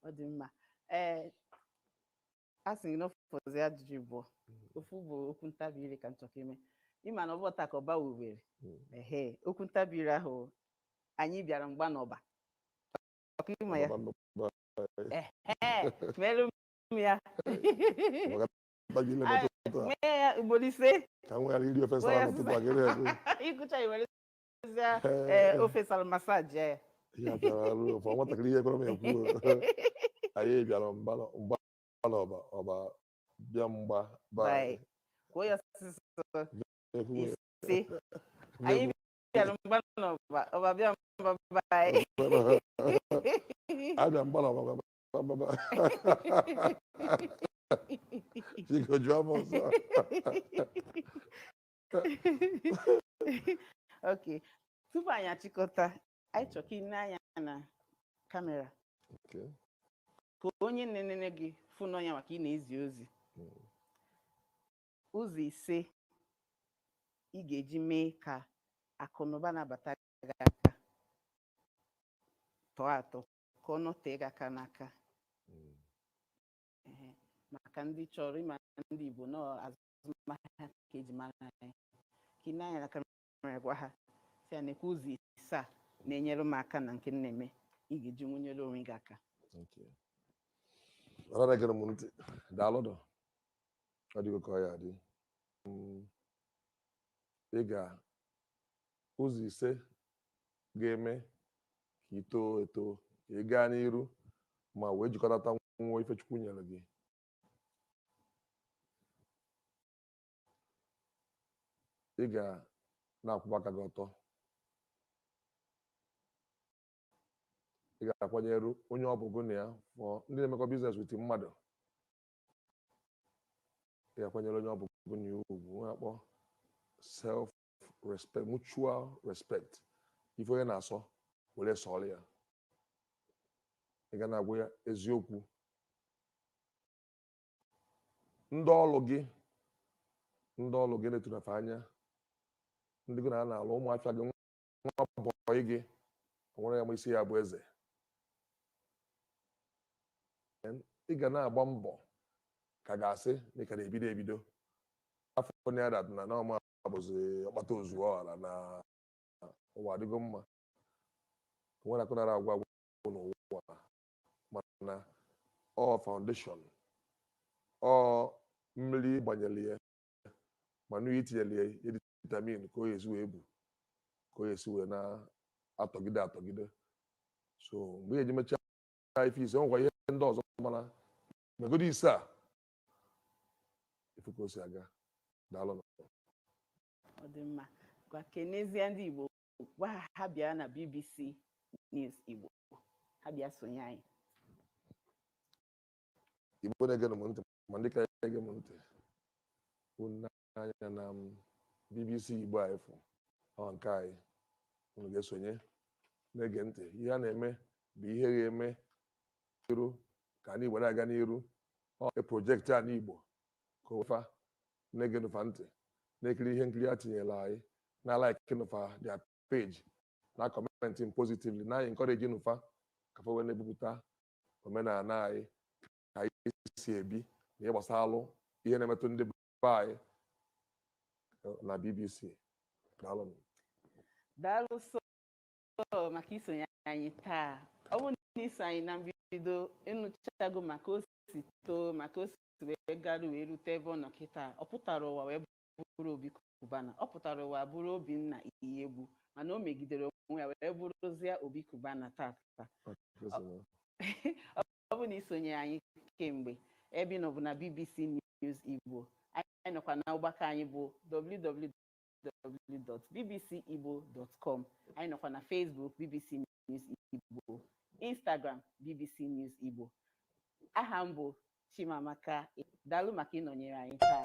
ọ dị mma ee a sị gị na ọ fọzi ajụjụ bụ ofu bụ okwu ntabi ire ka m chọrọ ime ị ma na ọ bụ taa ka ọba wubere Mm. ehe okwu ntabi ire ahụ anyị bịara mgba n'ọba ok ị ma ya Ọba nnukwu ehe merụ m ya ofe sara masaji ya nwatakịrị ihe kwere m ekwu anyị bịara mgba n'ọba ọba bịa mgba anyị bịara mgba ọba bịa mgba abịa mgba ọba Biko jụọ m ọzọ. ok tupu anyị achịkọta anyị chọrọ ka i nee anya na kamera Okay. ka onye na-enene gị fụ na ọ nya nwa ka ị na-ezi ozi Mm. ụzọ ise ị ga-eji mee ka akụ na ụba na-abata gị aka tọọ atọ ka ọ nọtee gị aka n'aka Mm. Ehe. maka ndị chọrọ ịma ndị Igbo na azụmahịa ka e ji mara anyị ka i nee anya na kamera gwa ha sị ha nekwa ụzọ ise a na-enyere m aka na nke m na-eme ị ga-eji nwee nyere onwe gị aka Thank you. Ọra na-egere m ntị. Daalụnụ. Ọ dịgo ka ọ ya adị. Mm. Ị ga Ụzọ ise ga-eme ka i too eto, ka ị gaa n'iru ma wee jikọtata nwuo ife Chukwu nyere gị. Ị ga na-akwụba aka gị ọtọ. Ị ga-akwanyere onye ọ bụ gụ na ya ma ndị na-emekọ business with mmadụ. Ị ga-akwanyere onye ọ bụ gụ na ya ugwu, nwa a kpọ self respect mutual respect ife onye na-asọ were sọrọ ya ị ga na-agwa ya eziokwu ndị ọlụ gị ndị ọlụ gị na-etunye fa anya ndị gị na ha na-alụ ụmụ afịa gị nwa bọyị gị nwere ya ma isi ya bụ eze ị ga na-agba mbọ ka a ga-asị na ị ka na-ebido ebido afọ na ya na ọma ọ bụzi ọkpata ozuo ọha na ụwa adịgo mma nwere akụ anara agwụ agwụ n'ụwa mana ọ foundation ọ mmiri gbanyere ya manure i tinyere ya ya dị vitamin ka ọ ya-esi wee bu ka ọ ya-esi wee na-atọgide atọgide so mgbe ị ya-eji mechaa ife ise ọ nwekwa ihe ndị ọzọ mana megodi ise a ị fụ ka o si aga daalụ na ọ dị mma gwakenezie ndị igbo gwa ha ha bịa na bbc news igbo ha bịa sonye anyị igbo na-ege m ntị ma ndị ka ege m ntị unu anya na m bbc igbo a ị fụ ọ nke anyị unu ga-esonye na-ege ntị ihe a na-eme bụ ihe ga-eme iru ka anyị were aga n'iru ọ eproject anị igbo ka ofa na-ege nụ fa ntị na-ekiri ihe nkiri a tinyere anyị na like nụ fa their page na comment positively na-encourage nụ fa ka fa wee na-ebupụta omenala anyị ka anyị si ebi na ihe gbasaalụ ihe na-emetụ ndị be anyị na bbc daalụ m. daalụ sọ maka isonye anyị taa ọ bụrụ na i so anyị na mbido ị nụchago maka o si too maka o si wee garu wee rute ebe ọ nọ kịta ọ pụtara ụwa wee bụrụ obi cubana ọ pụtara ụwa bụrụ obinna iyiegbu mana o megidere onwe ya wee bụrụzie obi cubana taata ọ bụ na i sonyere anyị kemgbe ebe ị nọ bụ na bbc news igbo anyị nọkwa na ọgbakọ anyị bụ www.bbcigbo.com anyị nọkwa na facebook bbc news igbo instagram bbc news igbo aha m bụ chimamaka daalụ maka ịnọnyere anyị taa